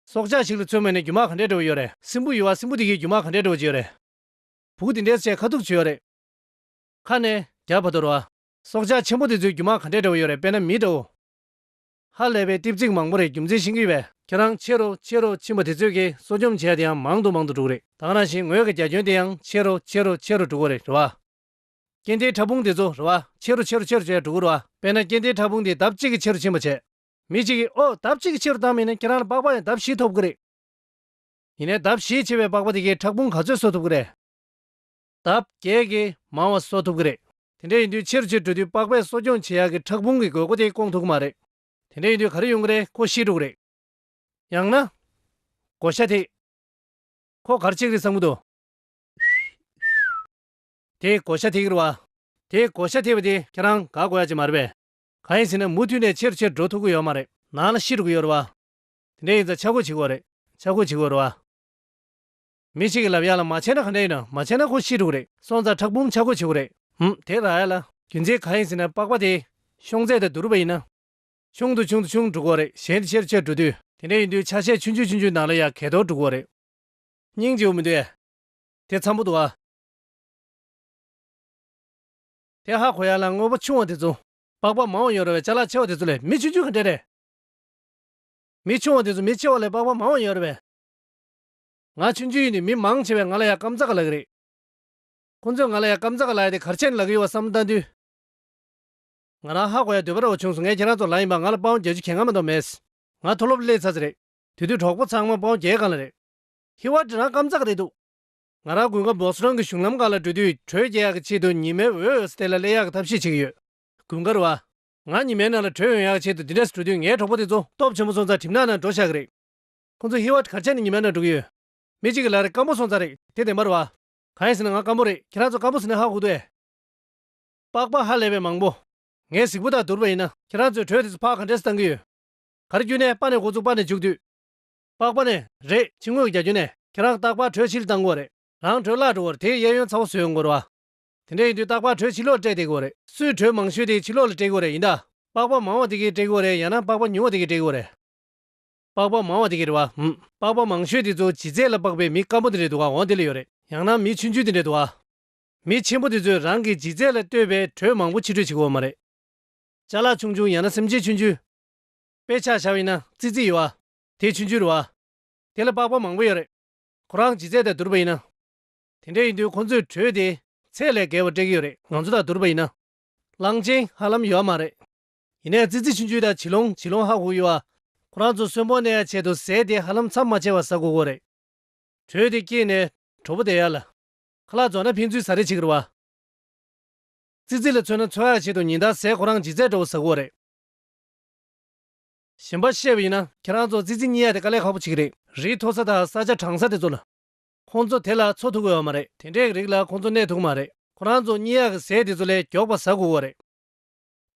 སྲོག་ཆགས་ཤིག་ལ་མཚོན་མོད་ནས་རྒྱུ་མ་ག་འདྲས་འབྲི་བ་ཡོད་རེད། སྲིན་བུ་ཡོད་བ་སྲིན་བུ་དེ་གིས་རྒྱུ་མ་ག་འདྲས་འབྲི་བ་བྱེད་ཡོད་རེད། བུག་དེ་འདྲས་བྱས་ཁ་ཐུག་བྱེད་ཡོད་རེད། ཁ་ནས། རྒྱ་བ་དོར་བ། སྲོག་ཆགས་ཆེན་པོ་དེ་ཚོས་རྒྱུ་མ་ག་འདྲས་འབྲི་བ་ཡོད་རེད་དཔེར་ན་མིའི་དགྲ་བོ། ཧ་ལས་པའི་ལྟིབ་ཚིག་མང་པོ་རེད་རྒྱུ་མཚན་ཤིང་གི་བས། ཁྱེད་རང་ཕྱི་རུ་ཕྱི་རུ་ཕྱིན་པ་དེ་ཚོས་ཀྱིས་གསོ་སྐྱོང་བྱས་ཡ་དེ་ཡང་མང་དུ་མང་དུ་འགྲུག་རེད། དང་རང་བཞིན་ངོས་ཀྱི་རྒྱ་ཁྱོན་དེ་ཡང་ཕྱི་རུ་ཕྱི་རུ་ཕྱི་རུ་འགྲོ་གི་རེད་རེད་བ། རྐྱེན་དེའི་ཕྲ་ཕུང་དེ་ཚོ་རུ་བ། ཆེ་རུ་ཆེ་རུ་ཆེ་རུ་བྱས་འགྲོ་གུ་རུ་བ། དཔེར་ན་རྐྱེན་དེའི་ཕྲ་ཕུང་དེ་ལྡབ་གཅིག་གིས་ཆེ་རུ་ཕྱིན་པ་བྱས། མི་གཅིག་གིས་ཨོ། ལྡབ་གཅིག་གིས་ཆེ་རུ་བཏང་མིན་ན་ཁྱེད་རང་ལ་པགས་པ་ཡང་ལྡབ་བཞི་ཐོབ་གི་རེད། ཡིན་ནའི་ལྡབ་བཞི་ཆེ་བའི་པགས་པ་དེ་གའི་ཕྲག་ཕུང་ག་ཚོད་གསོ་ཐུབ་གི་རེད། ལྡབ་བརྒྱད་ཀྱིས་མང་བ་གསོ་ཐུབ་གི་རེད། དེ་འདྲ་ཡིན་དུས་ཆེ་རུ་ཆེ་རུ་འགྲོ་དུས་པགས་པས་གསོ་སྐྱོང་བྱེད་ཡག་གི་ཕྲག་ཕུང་གི་དགོས་མཁོ་དེ་སྐོང་ཐུབ་གི་མ་རེད། དེ་འདྲ་ཡིན་དུས་ག་རེ་ཡོང་གི་རེད་ཁོ་ཤི་འགྲོ་གི་རེད། ཡང་ན། བགོ་བཤའ་ཐེག། ཁོ་གར་ཆེ་གི་རེད་བསམ་གི་འདུག། དེ་གོ་ཤ་ཐིག་རི་བ། དེ་གོ་ཤ་ཐིག་བ་དེ་ཁྱེད་རང་དགའ་གོ་ཡ་ཅིག་མ་རེད་པས། གང་ཡིན་ཟེར་ན་མུ་མཐུད་ནས་ཆེ་རུ་ཆེ་རུ་འགྲོ་ཐུབ་གི་ཡོད་མ་རེད། ནང་ལ་ཤི་རུ་གི་ཡོད་རི་བ། དེ་འདྲས་ཡིན་ཙང་ཆག་སྒོ་བྱེད་གོ་རེད། ཆག་སྒོ་བྱེད་གོ་རི་བ། མི་ཞིག་གི་ལབ་ཡ་ལ་མ་བྱས་ན་ག་འདྲས་ཡིན་ནམ་མ་བྱས་ན་ཁོ་ཤི་འགྲོ་གི་རེད་སོང་ཙང་ཁྲག་འབུམ་ཆག་སྒོ་བྱེད་གོ་རེད། ཧུམ་དེ་ར་ཡ་ལ། རྒྱུ་མཚན་གང་ཡིན་ཟེར་ན་པགས་པ་དེ་ཤོང་ཚད་དང་བསྡུ་རུ་བ་ཡིན་ན། ཆུང་དུ་ཆུང་དུ་ཆུང་འགྲོ་གོ་རེད་གཞན་དེ་ཆེ་རུ་ཆེ་རུ་འགྲོ་དུས། དེ་འདྲས་ཡིན་དུས་ཆ་ཤས་ཆུང་ཆུང་ཆུང་ཆུང་ནང་ལ་ཡ་གས་དོར་འགྲོ་གོ་རེད། སྙིང་རྗེ་བོ་མི་འདུག་ཡ། དེ་འཚམ་པོ་འདུག་ཨ། དེ་ཧ་གོ་ཡ་ལ་དངོས་པོ་ཆུང་བ་དེ་ཚོ། པགས་པ་མང་བ་ཡོད་ར་བའི་བྱ་ལ་ཆེ་བ་དེ་ཚོ་ལས་མི་ཆུང་ཆུང་གི་འབྲས་རེད། མི་ཆུང་བ་དེ་ཚོ་མི་ཆེ་བ་ལས་པགས་པ་མང་བ་ཡོད་ར་བས། ང་ཆུང་ཆུང་ཡིན་ནི་མི་མང་ཆེ་བས་ང་ལ་ཡ་སྐམ་རྩ་ག་ལ་གི་རེད། ཁོང་ཚོས་ང་ལ་ཡ་སྐམ་རྩ་ག་ལ་ཡ་དེ་གར་ཆེན་ལ་གི་ཡོད་བ་བསམ་བློ་བཏང་དུས། ང་རང་ཧ་གོ་ཡ་སྡོད་པ་ར་བ་བྱུང་སོང་ངས་ཁྱེད་རང་ཚོ་ལ་ཡིན་པ་ང་ལ་པའུ་བརྒྱད་ཅུ་གྱེས་སྔ་མ་མདོག་མེད། ང་མཐོ་སློབ་སླེབས་ཚ་ཚ་རེད། དེ་དུས་གྲོགས་པོ་ཚང་མ་པའུ་བརྒྱད་གང་ལ་རེད། ཧི་བ་དྲི་རང་སྐམ་རྩ་ག་རེད་འདུག། ང་རང་དགུན་ཁ་སྦོགས་རང་གི་གཞུང་ལམ་འགའ་ལ་འགྲོ་དུས་དྲོད་སྐྱེད་ཡག་གི་ཆེད་དུ་ཉི་མའི་འོད་ཨོས་ཏེ་ལ་གླེ་ཡག་གི་ཐབས་ཤེས་བྱེད་ཀྱི་ཡོད། དགུན་ཁར་བ། ང་ཉི་མའི་ནང་ལ་དྲོད་ཡོང་ཡག་གི་ཆེད་དུ་འདི་འདྲས་སུ་འགྲོ་དུས་ངའི་གྲོགས་པོ་དེ་ཚོ་སྟོབས་ཆེན་པོ་སོང་ཙང་གྲིབ་ནག་ནང་འགྲོ་ཤག་གི་རེད། ཁོང་ཚོ་ཧི་བ་གར་ཆགས་ནས་ཉི་མའི་ནང་འགྲོ་གི་ཡོད། མི་གཅིག་གི་ལག་རེ་སྐམ་པོ་སོང་ཙང་རེད་དེ་བདེན་པར་བ། གང་ཡིན་ཟེར་ན་ང་སྐམ་པོ་རེད་ཁྱེད་རང་ཚོ་སྐམ་པོ་ཟེར་ན་ཧ་གོ་དུས་ཨེ། པགས་པ་ཧ་ལས་པའི་མང་པོ། ངའི་གཟིགས་པོ་དག་བསྡུར་བ་ཡིན་ན་ཁྱེད་རང་ཚོས་དྲོད་དེ་ཚོ་ཕག་གང་འདྲས་སུ་བཏང་གི་ཡོད། གར་བསྐྱུར་ནས་པ་ནས་འགོ་བཙུགས་པ་ནས་འཇུག་དུས། པགས་པ་ནས་རེད་ཕྱི་ངོས་རྒྱ་ཁྱོན་ནས་ཁྱེད་རང་སྟག་ལྤགས་དྲོད་ཕྱིར་བཏང་དགོས་རེད། རང་དྲོད་བརླག་འགྲོ་བར་དེའི་གཡས་གཡོན་ཚ་བོ་ཟོས་འགོ་རུ་ཨ། དེ་འདྲ་ཡིན་དུས་སྟག་ལྤགས་དྲོད་ཕྱི་ལོག་སྤྲད་དེ་དགོས་རེད། སུས་དྲོད་མང་ཤོས་དེ་ཕྱི་ལོག་ལ་སྤྲད་དགོས་རེད་ཡིན་དཱ། པགས་པ་མང་བ་དེ་གིས་སྤྲད་དགོས་རེད་ཡང་ན་པགས་པ་ཉུང་བ་དེ་གིས་སྤྲད་དགོས་རེད། པགས་པ་མང་བ་དེ་གིས་རེད་བ་འམ། པགས་པ་མང་ཤོས་དེ་ཚོ་བྱི་རྫས་ལ་དཔག་པའི་མི་སྐམ་པོ་དེ་འདྲའི་དུ་གའང་དེ་ལ་ཡོད་རེད་ཡང་ན་མི་ཆུན་ཆུན་དེ་འདྲའི་དུ་ག། མི་ཆེན་པོ་དེ་ཚོས་རང་གི་བྱི་རྫས་ལ་ལྟོས་པའི་དྲོད་མང་པོ་ཕྱི་སྤྲོད་བྱེད་དགོས་བ་མ་རེད། བྱ་ལག་ཆུང་ཆུང་ཡང་ན་སེམས་ཅན་ཆུན་ཆུན། དཔེ་ཆ་བྱ་བ་ཡིན་ན་རྩིག་རྩིག་ཡོད་བ། དེས་ཕྱི་འགྱུར་བ། དེ་ལ་དཔག་པ་མང་པོ་ཡོད་རེད། ཁོ་རང་ཇི་རྩད་དང་བསྡུར་བ་ཡིན་ན། དེ་འདྲ་ཡིན་དུས་ཁོང་ཚོས་གྲོས་དེ་ཚད་ལས་བརྒལ་བ་སྤྲད་ཀྱི་ཡོད་རེད་ང་ཚོ་དང་བསྡུར་བ་ཡིན་ན། གླང་ཆེན་ཧ་ལམ་ཡོད་མ་རེད། ཡིན་ནའི་ཙི་ཙི་ཕྱི་འགྱུར་དང་བྱི་ལོང་བྱི་ལོང་ཧ་གོ་གི་ཡོད། ཁོ་རང་ཚོ་གསོན་པོ་གནས་ཡ་ཆེད་དུ་ཟས་དེ་ཧ་ལམ་མཚམས་མ་ཆད་པར་ཟ་དགོས་གོ་རེད། གྲོས་དེ་སྐྱེས་ནས་གྲོགས་པོ་བསྡད་ཡ་ལ། ཁ་ལག་རྫོགས་ན་ཕན་ཚུན་ཟ་རེས་བྱེད་ཀྱི་རོ། ཙི་ཙི་ལ་མཚོན་ན་འཚོ་ཡ་ཆེད་དུ་ཉིན་ལྟར་ཟས་ཁོ་རང་ཇི་རྩད་འདྲ་བོ་ཟ་དགོས་རེད། གཞན་པར་བཤད་པ་ཡིན་ན་ཁྱེད་རང་ཚོ་ཙི་ཙི་གཉིས་ཡ་དེ་དཀའ་ལས་ཁག་པོ་ཅིག་རེད། རི་མཐོ་ས་དང་ས་ཆ་གྲང་ས་དེ་ཚོ་ལ། ཁོང་ཚོ་དེ་ལ་འཚོ་ཐུབ་དགོས་བ་མ་རེད་དེ་འདྲའི་རིགས་ལ་ཁོང་ཚོ་གནས་ཐུབ་གི་མ་རེད་ཁོ་རང་ཚོ་གཉིས་ཡ་གི་ཟས་དེ་ཚོ་ལས་མགྱོགས་པ་ཟ་དགོས་བ་རེད།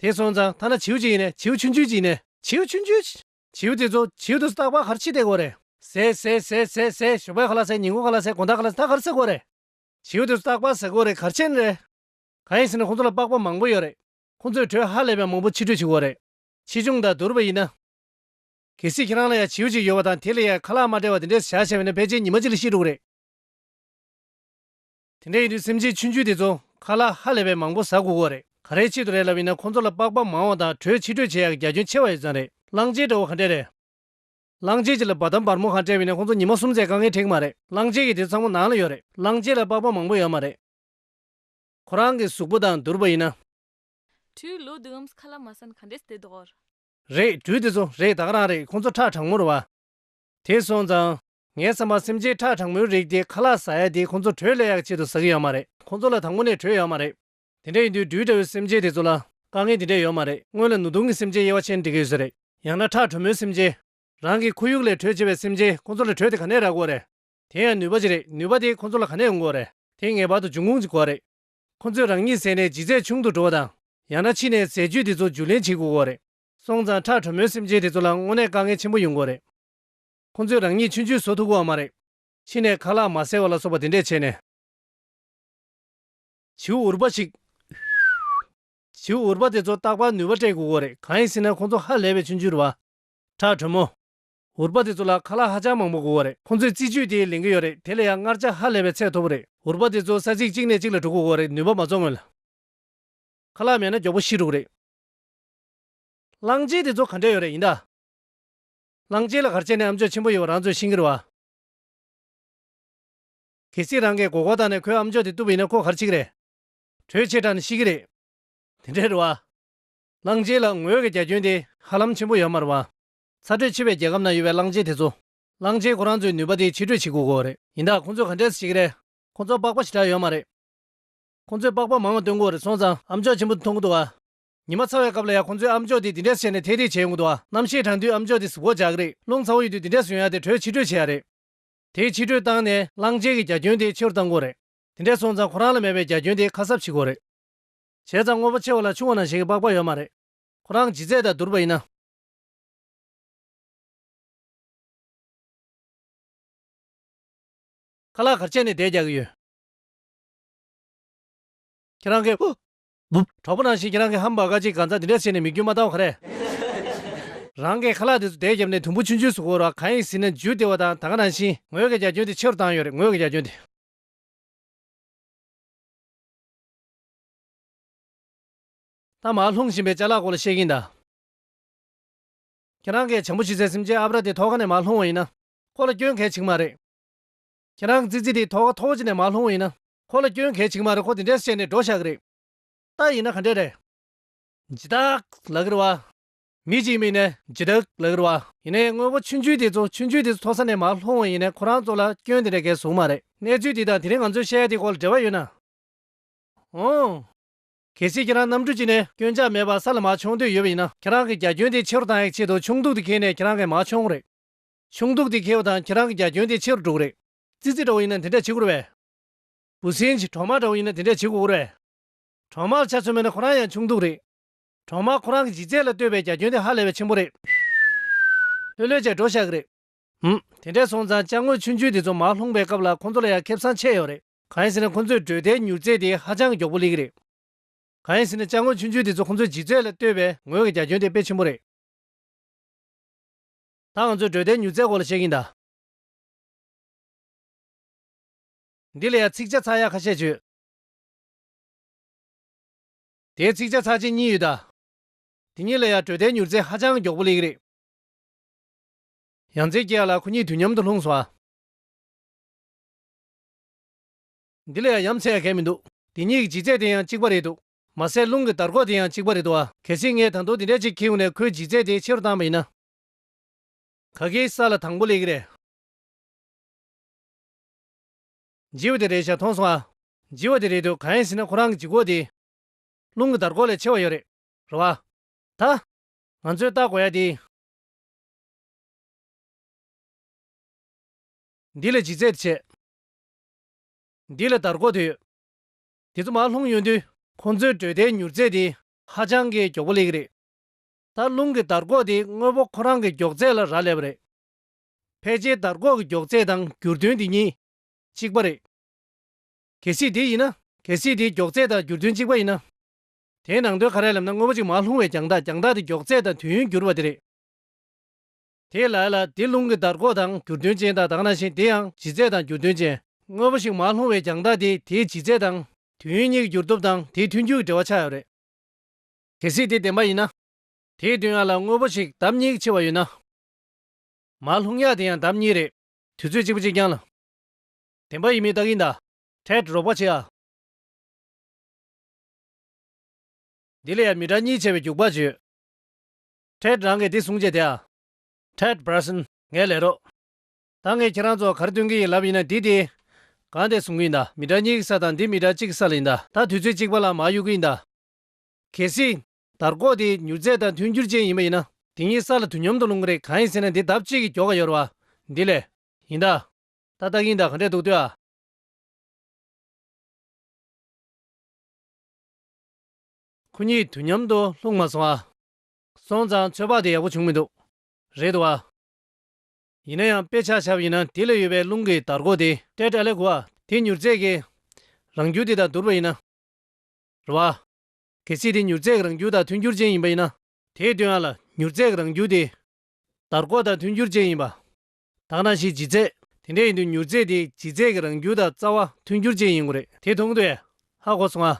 དེ་སོང་ཙང་ཐ་ན་བྱིའུ་གཅིག་ཡིན་ནས་བྱིའུ་ཆུན་ཆུན་གཅིག་ཡིན་ནས། བྱིའུ་ཆུན་ཆུན། བྱིའུ་དེ་ཚོ་བྱིའུ་དུ་སྟག་པགས་གར་ཕྱིས་བསྡད་དགོས་བ་རེད། ཟས་ཟས་ཟས་ཟས་ཟས་ཞོགས་པའི་ཁ་ལ་ཟས་ཉིན་གུང་ཁ་ལ་ཟས་དགོང་དག་ཁ་ལ་ཟས་ད་གར་ཟ་དགོས་བ་རེད། བྱིའུ་དེ་ཚོ་སྟག་པགས་ཟ་དགོས་བ་རེད་གར་ཆས་ནི་རེད། གང་ཡིན་ཟེར་ན་ཁོང་ཚོ་ལ་པགས་པ་མང་པོ་ཡོད་རེད། ཁོང་ཚོའི་གྲོས་ཧ་ལས་པའི་མང་པོ་ཕྱིར་སྤྲོད་བྱེད་དགོས་བ་རེད། ཕྱིས་འབྱུང་དང་བསྡུར་བ་ཡིན་ན། གལ་སྲིད་ཁྱེད་རང་ལ་ཡང་བྱིའུ་གཅིག་ཡོད་པ་དང་དེ་ལ་ཡང་ཁ་ལག་མ་འབྲེལ་བ་དེ་འདྲས་སུ་བཞག་བྱས་པས་ན་ཕལ་ཆེར་ཉི་མ་གཅིག་ལ་ཤི་འགྲོ་གི་རེད། དེ་འདྲས་ཡིན་དུས་སེམས་ཅན་ཆུང་ཆུང་དེ་ཚོ་ཁ་ལག་ཧ་ལས་པའི་མང་པོ་ཟ་དགོས་སྐོར་རེད། ག་རེའི་ཆེད་དུ་རེད་ལབ་ཡིན་ན་ཁོང་ཚོ་ལ་པགས་པ་མང་བ་དང་དྲོད་ཕྱིར་སྤྲོད་བྱེད་ཡག་གི་རྒྱ་ཁྱོན་ཆེ་བ་ཡོད་ཙང་རེད། གླང་ཆེན་འདྲ་བོ་ག་འདྲས་རེད། གླང་ཆེན་གཅིག་ལ་འབའ་ཐམ་འབར་མོ་གང་སྤྲད་བས་ན་ཁོང་ཚོ་ཉི་མ་གསུམ་ཚད་དཀའ་ངལ་འཕྲད་གི་མ་རེད། གླང་ཆེན་གྱི་དེ་ཚོ་ཚང་མ་ནང་ལ་ཡོད་རེད། གླང་ཆེན་ལ་པགས་པ་མང་པོ་ཡོད་མ་རེད། ཁོ་རང་གི་གཟུགས་པོ་དང་བསྡུར་བ་ཡིན་ན། བྲུས་ལོ་དུ་འམ་ཁ་ལ་མ་སན་ག་འདྲེས་དེ་དོར། རེད་བྲུས་དེ་ཚོ་རེད་ད་རང་རེད་ཁོང་ཚོ་ཁྲག་དྲང་མོར་བ། དེ་སོང་ཙང། ངའི་བསམ་པར་སེམས་ཅན་ཁྲག་དྲང་མོའི་རིགས་དེ་ཁ་ལག་ཟ་ཡ་དེ་ཁོང་ཚོ་དྲོད་ལས་ཡག་ཆེད་དུ་ཟ་གི་ཡོད་མ་རེད་ཁོང་ཚོ་ལ་དང་པོ་ནས་དྲོད་ཡོད་མ་རེད། དེ་འདྲ་ཡིན་དུས་བྲུས་འདྲ་བོའི་སེམས་ཅན་དེ་ཚོ་ལ་དཀའ་ངལ་དེ་འདྲས་ཡོད་མ་རེད་སྔོན་ལ་ནུ་དུང་གི་སེམས་ཅན་དབྱེ་བ་ཆེན་འབྲི་གི་ཡོད་ས་རེད་ཡང་ན་ཁྲག་དྲོན་མོའི་སེམས་ཅན། རང་གི་ཁོར་ཡུག་ལས་དྲོད་ཆེ་བའི་སེམས་ཅན་ཁོང་ཚོ་ལ་དྲོད་དེ་ག་ནས་རག་གོ་རེད། དེ་ཡང་ནུས་པ་ཅིག་རེད་ནུས་པ་དེ་ཁོང་ཚོ་ལ་ག་ནས་ཡོང་གོ་རེད་དེ་ངེས་པར་དུ་འབྱུང་ཁུངས་ཅིག་གོ་རེད། ཁོ་ཚོས་རང་ཉིད་ཟས་ནད་ལྗིད་ཚད་ཆུང་དུ་འགྲོ་བ་དང། ཡང་ན་ཕྱི་ནས་ཟས་བཅུད་དེ་ཚོ་བསྒྱུར་ལེན་བྱེད་དགོས་སྐོར་རེད། སོང་ཙང་ཁྲག་དྲོན་མོའི་སེམས་ཅན་དེ་ཚོ་ལ་དངོས་གནས་དཀའ་ངལ་ཆེན་པོ་ཡོང་སྐོར་རེད། ཁོ་ཚོས་རང་ཉིད་ཆུན་ཆུད་བཟོ་ཐུབ་གི་བ་མ་རེད། ཕྱི་ནས་ཁ་ལག་མ་བསལ་བ་ལ་སོགས་པ་དེ་འདྲས་བྱས་ནས། བྱིའུ་འུར་པ་ཞིག། བྱིའུ་འུར་པ་དེ་ཚོ་བརྟག་པར་ནུས་པ་སྤྲད་དགོས་སྐོར་རེད་གང་ཡིན་ཟེར་ན་ཁོ་ཚོ་ཧ་ལས་པའི་ཆུན་ཆུད་བ། ཁྲག་དྲོན་མོ། འུར་པ་དེ་ཚོ་ལ་ཁ་ལག་ཧ་ཅང་མང་པོ་དགོས་བ་རེད་ཁོང་ཚོས་རྩིས་ཆུའི་དེའི་ལེན་གྱི་ཡོད་རེད་དེ་ལ་ཡང་མངར་ཆ་ཧ་ལས་པའི་ཚད་མཐོ་པོ་རེད་འུར་པ་དེ་ཚོ་ས་ཚིགས་གཅིག་ནས་གཅིག་ལ་དྲུག་གོ་དགོས་བ་རེད་ནུས་པ་མ་ཚོགས་སྔོན་ལ། ཁ་ལག་མེད་ན་མགྱོགས་པོ་ཤི་འགྲོ་གི་རེད། གླང་ཆེན་དེ་ཚོ་ག་འདྲས་ཡོད་རེད་ཡིན་ད། གླང་ཆེན་ལ་གར་བྱས་ནས་ཨམ་ཅོག་ཆེན་པོ་ཡོད་བ་རང་ཚོས་ཤིང་ཁྱེར་བ། གལ་སྲིད་རང་གས་མགོ་སྐོར་བཏང་ནས་ཁོའི་ཨམ་ཅོག་དེ་བཏུབ་པ་ཡིན་ན་ཁོ་གར་འཆི་གི་རེད། དྲོད་ཆེས་དྲགས་ནས་ཤི་གི་རེད། དེ་འདྲས་རེད་བ། གླང་ཆེན་ལ་ངོས་ཀྱི་རྒྱ་ཁྱོན་དེ་ཧ་ལམ་ཆེན་པོ་ཡོད་མ་རེད་བ། ཚ་དྲོད་ཆེ་བའི་རྒྱལ་ཁབ་ན་ཡོད་པའི་གླང་ཆེན་དེ་ཚོ། གླང་ཆེན་ཁོ་རང་ཚོའི་ནུས་པ་དེ་ཕྱི་སྤྲོད་བྱེད་དགོས་གོ་རེད། ཡིན་ད་ཁོང་ཚོས་ག་འདྲས་སུ་བྱེད་ཀྱི་རེད། ཁོང་ཚོ་པགས་པ་ཞེ་དྲག་ཡོད་མ་རེད། ཁོང་ཚོས་པགས་པ་མང་བ་སྟོན་དགོས་རེད་སོང་ཙང་ཨམ་ཅོག་ཆེན་པོ་འདི་འཐུང་གི་འདུག་ཨ། ཉི་མ་ཚ་བའི་སྐབས་ལ་ཡང་ཁོང་ཚོས་ཨམ་ཅོག་དེ་འདི་འདྲས་སུ་བྱས་ནས་ཐེད་ཐེད་བྱེད་ཡོང་གི་འདུག་ཨ། གནམ་ཤེད་གྲང་དུས་ཨམ་ཅོག་དེ་ཟུག་གོག་བྱ་གི་རེད། རླུང་ཚ་བོ་ཡོད་དུས་འདི་འདྲས་སུ་ཡོང་ཡ་དེ་དྲོད་ཕྱི་སྤྲོད་བྱེད་ཡ་རེད། དེ་ཕྱི་སྤྲོད་བཏང་ནས་གླང་ཆེན་གྱི་རྒྱ་ཁྱོན་དེ་ཆེ་རུ་བཏང་དགོས་རེད། དེ་འདྲས་སོང་ཙང་ཁོ་རང་ལ་མེད་པའི་རྒྱ་ཁྱོན་དེ་ཁ་གསབ་བྱེད་དགོས་རེད། བྱས་ཙང་དངོས་པོ་ཆེ་བ་ལ་ཆུང་བ་ནང་བཞིན་གྱི་པགས་པ་ཡོད་མ་རེད། ཁོ་རང་ཇི་རྩད་དང་བསྡུར་བ་ཡིན་ན། ཁ་ལག་གར་བཅད་ནས་བསྡད་རྒྱག་གི་ཡོད། ཁྱེད་རང་གིས། བུབ། གྲོགས་པོ་རང་བཞིན་གྱིས་རང་གི་ཧམ་བག་ཀ་གཅིག་གང་ཚ་འདི་འདྲ་བྱས་ནས་མི་རྒྱུ་མ་བཏང་བ་ག་རེད། རང་གིས་ཁ་ལག་དེ་ཚོ་བསྡད་བརྒྱབ་ནས་དུམ་བུ་ཆུན་ཆུན་ཟུག་བོར་བ་གང་ཡིན་ཟིན་ན་འཇུ་བདེ་བ་དང་ད་ག་རང་བཞིན་ངོས་ཀྱི་རྒྱ་ཁྱོན་དེ་ཕྱི་རུ་བཏང་ཡོད་རེད་ངོས་ཀྱི་རྒྱ་ཁྱོན་དེ། ཐ་མག་ལྷུང་བཞིན་པའི་བྱ་གླག་སྐོར་ལ་བཤད་གིན་གདའ། ཁྱེད་རང་གིས་བྱང་བུ་ཤི་ཚེ་སེམས་ཅན་ཨབ་ར་དེ་ཐོག་ཁ་ནས་མ་ལྷུང་བ་ཡིན་ན། ཁོ་ལ་སྐྱོན་གལ་ཆིག་མ་རེད། ཁྱེད་རང་གི་ཙི་ཙི་དེ་ཐོག་ཁ་ཐོག་ཅི་ནས་མ་ལྷུང་བ་ཡིན་ན། ཁོ་ལ་སྐྱོན་གལ་ཆིག་མ་རེད་ཁོ་དེ་འདྲས་བཤད་ནས་འགྲོ་ཤག་གི་རེད། རྟགས་ཡིན་ན་ག་འདྲས་རེད། ཇི་ལྟག་ལག་གིར་བ། མི་གཅིག་མིན་ནས་ཇི་ལྟག་ལག་གིར་བ། ཡིན་ནའི་དངོས་པོ་ཆུན་ཆུན་དེ་ཚོ་ཆུན་ཆུན་དེ་ཚོ་ཐོག་ས་ནས་མ་ལྷུང་བ་ཡིན་ནའི་ཁོ་རང་ཚོ་ལ་སྐྱོན་དེ་འདྲས་གལ་བཟུང་མ་རེད། གནས་ཚུལ་དེ་དང་དེ་རིང་ང་ཚོས་བཤད་དེ་སྐོར་ལ་འབྲེལ་བ་ཡོད་ན། འོང། གལ་སྲིད་ཁྱེད་རང་གནམ་གྲུ་བཅིངས་ནས་སྐྱོན་ཆ་མེད་པར་ས་ལ་མ་མཆོངས་འདོད་ཡོད་པ་ཡིན་ན་ཁྱེད་རང་གི་རྒྱ་ཁྱོན་དེ་ཕྱི་རུ་གཏང་ཡག་ཆེད་དུ་ཆུང་གདུགས་དེ་འཁེལ་ནས་ཁྱེད་རང་གིས་མ་མཆོངས་རེད། ཆུང་གདུགས་དེ་འཁེལ་བ་དང་ཁྱེད་རང་གི་རྒྱ་ཁྱོན་དེ་ཕྱི་རུ་འགྲོ་གི་རེད། ཙི་ཙི་འདྲ་བོ་ཡིན་ན་དེ་འདྲས་བྱེད་དགོས་རེད། བུ་སྲིན་གྱི་གྲོག་མ་འདྲ་བོ་ཡིན་ན་དེ་འདྲས་བྱེད་དགོས་རེད། གྲོག་མར་ཆ་མཚོན་མེད་ན་ཁོ་རང་ཡང་ཆུང་གདུགས་རེད། གྲོག་མ་ཁོ་རང་གི་འཇིགས་རྩལ་ལ་ལྟོས་པའི་རྒྱ་ཁྱོན་དེ་ཧ་ལས་པའི་ཆེན་པོ་རེད། ལྷོད་ལྷོད་བྱས་འགྲོ་ཤག་གི་རེད། འུམ། དེ་འདྲས་སོང་ཙང་དཔྱ་དངོས་ཆུང་ཆུང་དེ་ཚོ་མར་ལྷུང་པའི་སྐབས་ལ་ཁོང་ཚོ་ལ་ཡང་ཁེབས་སང་ཆད་ཡོད་རེད། གང་ཡིན་ཟེར་ན་ཁོང་ཚོས་བགྲོད་བསྡད་མྱུར་ཚད་དེ་ཧ་ཅང་གི་མགྱོགས་པོ་ལེགས་རེད། གང་ཡིན་ཟེར་ན་དཔྱ་དངོས་ཆུང་ཆུང་དེ་ཚོ་ཁོང་ཚོས་ལྗིད་ཚད་ལ་ལྟོས་པའི་ངོས་ཀྱི་རྒྱ་ཁྱོན་དེ་དཔེ་ཆེན་པོ་རེད། ད་ང་ཚོས་བགྲོད་བསྡད་མྱུར་ཚད་སྐོར་ལ་བཤད་གིན་གདའ། འདི་ལ་ཡང་ཚིག་ཆ་ཚགས་ཡག་ཁ་ཤས་བྱོས། དེའི་ཚིག་ཆ་ཚགས་ཆེན་གཉིས་ཡོད་གདའ། དེ་གཉིས་ལ་ཡང་བགྲོད་བསྡད་མྱུར་ཚད་ཧ་ཅང་གི་མགྱོགས་པོ་ལེགས་རེད། ཡང་རྩེ་སྐྱེས་ཡག་ལ་ཁོ་གཉིས་དུས་མཉམ་དུ་ལྷུང་སོང་ཨ། འདི་ལ་ཡང་ཡམས་ཚད་གས་མི་འདུག། དེ་གཉིས་ཀྱི་ལྗིད་ཚད་དེ་ཡང་གཅིག་པ་རེད་འདུག། མ་ཟད་རླུང་གི་དར་གོ་དེ་ཡང་གཅིག་པ་རེད་འདུག་ཨ། གལ་སྲིད་ངས་དང་དུག་འདི་འདྲ་གཅིག་ཁྱེའུ་ནས་ཁོའི་ལྗིད་ཚད་དེ་ཆེ་རུ་བཏང་བ་ཡིན་ན། ག་གེའི་ས་ལ་དང་པོ་ལས་ཀྱི་རེད། ལྗི་བ་དེ་རེད་ཤག་མཐོང་སོང་ཨ། ལྗི་བ་དེ་རེད་འདུག་གང་ཡིན་ཟེར་ན་ཁོ་རང་གི་ལྗིད་གོ་དེ། རླུང་གི་དར་གོ་ལས་ཆེ་བ་ཡོད་རེད། རེད་བ། ད། ང་ཚོས་བརྟག་དགོས་ཡ་དེ། འདི་ལ་ཇི་སྩལ་དུ་བྱེད། འདི་ལ་དར་སྒོ་དུད། དེ་ཚོ་མར་ལྷུང་གཡོན་དུད། ཁོང་ཚོའི་འགྲོས་དལ་མྱུར་རྩལ་དེ་ཧ་ཅང་གི་མགྱོགས་པོ་ལེགས་རེད། ད་རླུང་གི་དར་སྒོ་དེ་དངོས་པོ་ཁོ་རང་གི་མགྱོགས་ཚད་ལ་རག་ལས་པ་རེད། ཕལ་ཆེར་དར་སྒོ་གི་མགྱོགས་ཚད་དང་འགྱུར་དོན་དེ་གཉིས་གཅིག་པ་རེད། གལ་སྲིད་དེ་ཡིན་ན། གལ་སྲིད་དེའི་མགྱོགས་ཚད་དང་འགྱུར་དོན་གཅིག་པ་ཡིན་ན། དེའི་ནང་དོན་ག་རེ་ལབ་ན་དངོས་པོ་གཅིག་མར་ལྷུང་བའི་རྒྱང་ཐག་རྒྱང་ཐག་དེ་མགྱོགས་ཚད་དང་དུས་ཡུན་འགྱུར་བ་དེ་རེད། དེས་ལ་ཡ་ལ་དེ་རླུང་གི་འདར་འགོག་དང་འགྱུར་དོན་ཅན་དག་དག་ན་བཞིན་དེ་ཡང་ལྗིད་ཚད་དང་འགྱུར་དོན་ཅན། དངོས་པོ་ཞིག་མར་ལྷུང་བའི་རྒྱང་ཐག་དེ་དེའི་ལྗིད་ཚད་དང། དུས་ཡུན་གཉིས་ཀྱི་འགྱུར་སྟོབས་དང་དེའི་མཐུན་འགྱུར་གྱི་འབྲེལ་བ་ཆགས་ཡོད་རེད། གལ་སྲིད་དེ་བདེན་པ་ཡིན་ན། དེའི་དུས་ཡང་ལ་དངོས་པོ་ཞིག་འདམ་གཉིས་ཀྱི་ཆེ་བ་ཡོད་ན། མར་ལྷུང་ཡག་དེ་ཡང་འདམ་གཉིས་རེད། དུས་ཚོད་གཅིག་པོ་གཅིག་རྐྱང་ལ། བདེན་པ་ཡིན་མིན་བརྟག་གིན་གདའ། ཐལ་འགྲོགས་པ་བྱེད་ཨ། འདི་ལ་ཡང་མི་སྒྲ་གཉིས་ཆེ་བའི་རྒྱུག་པ་བརྗོད། Ted རང་གིས་འདི་གསུངས་རྗེས་དེའ། Ted Bryson ངའི་ལས་རོགས། ད་ངས་ཁྱེད་རང་ཚོར་ག་རེ་སྟོན་གྱི་ཡིན་ལབ་ཡིན་ན་འདི་དེ། གང་དེ་གསུང་གི་ཡིན་ད། མི་དྲ་གཉིས་ཀྱི་ས་དང་འདི་མི་དྲ་གཅིག་གི་ས་ལ་ཡིན་ད། ད་དུས་ཚོད་གཅིག་པ་ལ་མར་གཡུག་གི་ཡིན་ད། གལ་སྲིད། དར་ཀོག་དེ་མྱུར་ཚད་དང་མཐུན་འགྱུར་ཅན་ཡིན་པ་ཡིན་ན། དེ་གཉིས་ས་ལ་དུས་མཉམ་དུ་ལྷུང་གི་རེད་གང་ཡིན་ཟེར་ན་འདི་ལྡབ་གཅིག་གི་མགྱོགས་ཀ་ཡོར་བ། འདི་ལས། ཡིན་ད། ད་ལྟ་གིན་ད་ག་འདྲས་འདུག་ལྟོས་ཨ། ཁོ་གཉིས་དུས་མཉམ་དུ་ལྷུང་མ་སོང་ཨ། སོང་ཙང་ཚོད་དཔག་དེ་ཡག་པོ་བྱུང་མི་འདུག། རེད་དཱ། ཡིན་ན་ཡང་དཔེ་ཆ་ཆབ་ཡིན་ན་དེ་ལས་ཡོད་པའི་རླུང་གི་དར་གོ་དེ། ཏྲེ་ཏྲ་ལེ་གོ་ཨ། དེ་མྱུར་ཚད་ཀྱི། རང་རྒྱུ་དེ་དང་བསྡུར་བ་ཡིན་ན། རེད་བ། གལ་སྲིད་དེ་མྱུར་ཚད་ཀྱི་རང་རྒྱུ་དང་མཐུན་འགྱུར་ཅན་ཡིན་པ་ཡིན་ན། དེའི་དོན་ཨ་ལ་མྱུར་ཚད་ཀྱི་རང་རྒྱུ་དེ། དར་གོ་དང་མཐུན་འགྱུར་ཅན་ཡིན་པ། དག་ན་ཞིག་ལྗིད་ཚད། དེ་འདྲ་ཡིན་དུས་མྱུར་ཚད་དེ་ལྗིད་ཚད་ཀྱི་རང་རྒྱུ་དང་རྩ་བ་མཐུན་འགྱུར་ཅན་ཡིན་དགོས་རེད། དེ་མཐོང་དུས་ཨ་གོ་སོང་ཨ།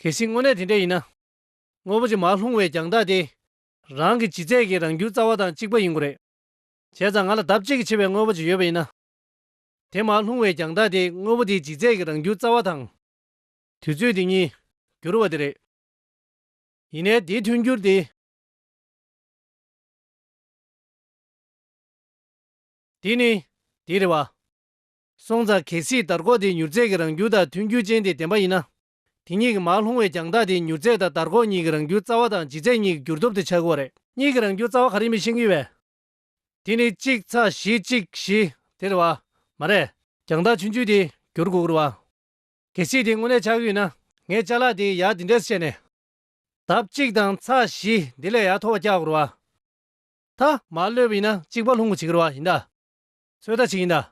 གལ་སྲིད་དངོས་གནས་དེ་འདྲ་ཡིན་ན། དངོས་པོ་ཅིག་མ་ལྷུང་བའི་རྒྱང་ཐག་དེ། རང་གི་ལྗིད་ཚད་ཀྱི་རང་རྒྱུའི་རྩ་བ་དང་གཅིག་པ་ཡིན་དགོས་རེད། བྱས་ཙང་ང་ལ་ལྡབ་གཅིག་གིས་ཆེ་བའི་དངོས་པོ་ཅིག་ཡོད་པ་ཡིན་ན། དེ་མ་ལྷུང་བའི་རྒྱང་ཐག་དེ་དངོས་པོ་དེའི་ལྗིད་ཚད་ཀྱི་རང་རྒྱུའི་རྩ་བ་དང། དུས་ཚོད་དེ་གཉིས། འགྱུར་བ་དེ་རེད། ཡིན་ནའི་དེའི་མཐུན་འགྱུར་དེ། དེ་ནི། དེའི་རེ་བ། སོང་ཙང་གལ་སྲིད་དར་ཁོག་དེའི་མྱུར་ཚད་ཀྱི་རང་རྒྱུ་དང་མཐུན་འགྱུར་ཅན་དེ་བདེན་པ་ཡིན་ན། དེ་གཉིས་ཀྱི་མར་ལྷུང་བའི་རྒྱང་ཐག་དེ་མྱུར་ཚད་དང་དར་ཁོག་གཉིས་ཀྱི་རང་རྒྱུའི་རྩ་བ་དང་ལྗིད་ཚད་གཉིས་ཀྱི་འགྱུར་ལྡོབ་དེ་ཆགས་འགོ་རེད། གཉིས་ཀྱི་རང་རྒྱུའི་རྩ་བ་ག་རེ་མི་ཤེས་ཀྱི་བས། དེ་ནི་གཅིག་ཚ་བཞི་གཅིག་བཞི་དེ་རེད་བ། མ་རེད། རྒྱང་ཐག་ཆུང་ཆུང་དེ་འགྱུར་འགོ་རེད་བ། གལ་སྲིད་དེ་དངོས་གནས་ཆགས་ཀྱི་ཡོད་ན་ངས་བཅའ་ལག་དེའི་ཡག་དེ་འདྲས་སུ་བྱས་ནས། ལྡབ་གཅིག་དང་ཚ་བཞི་དེ་ལས་ཡག་མཐོ་བ་རྒྱག་དགོས་རེད་བ། ད། མར་གློད་པ་ཡིན་ན་གཅིག་པར་ལྷུང་འགོ་བྱེད་ཀྱི་རེད་བ་ཡིན་ད། ཚོད་ལྟ་བྱེད་ཀྱི་ཡིན་ད།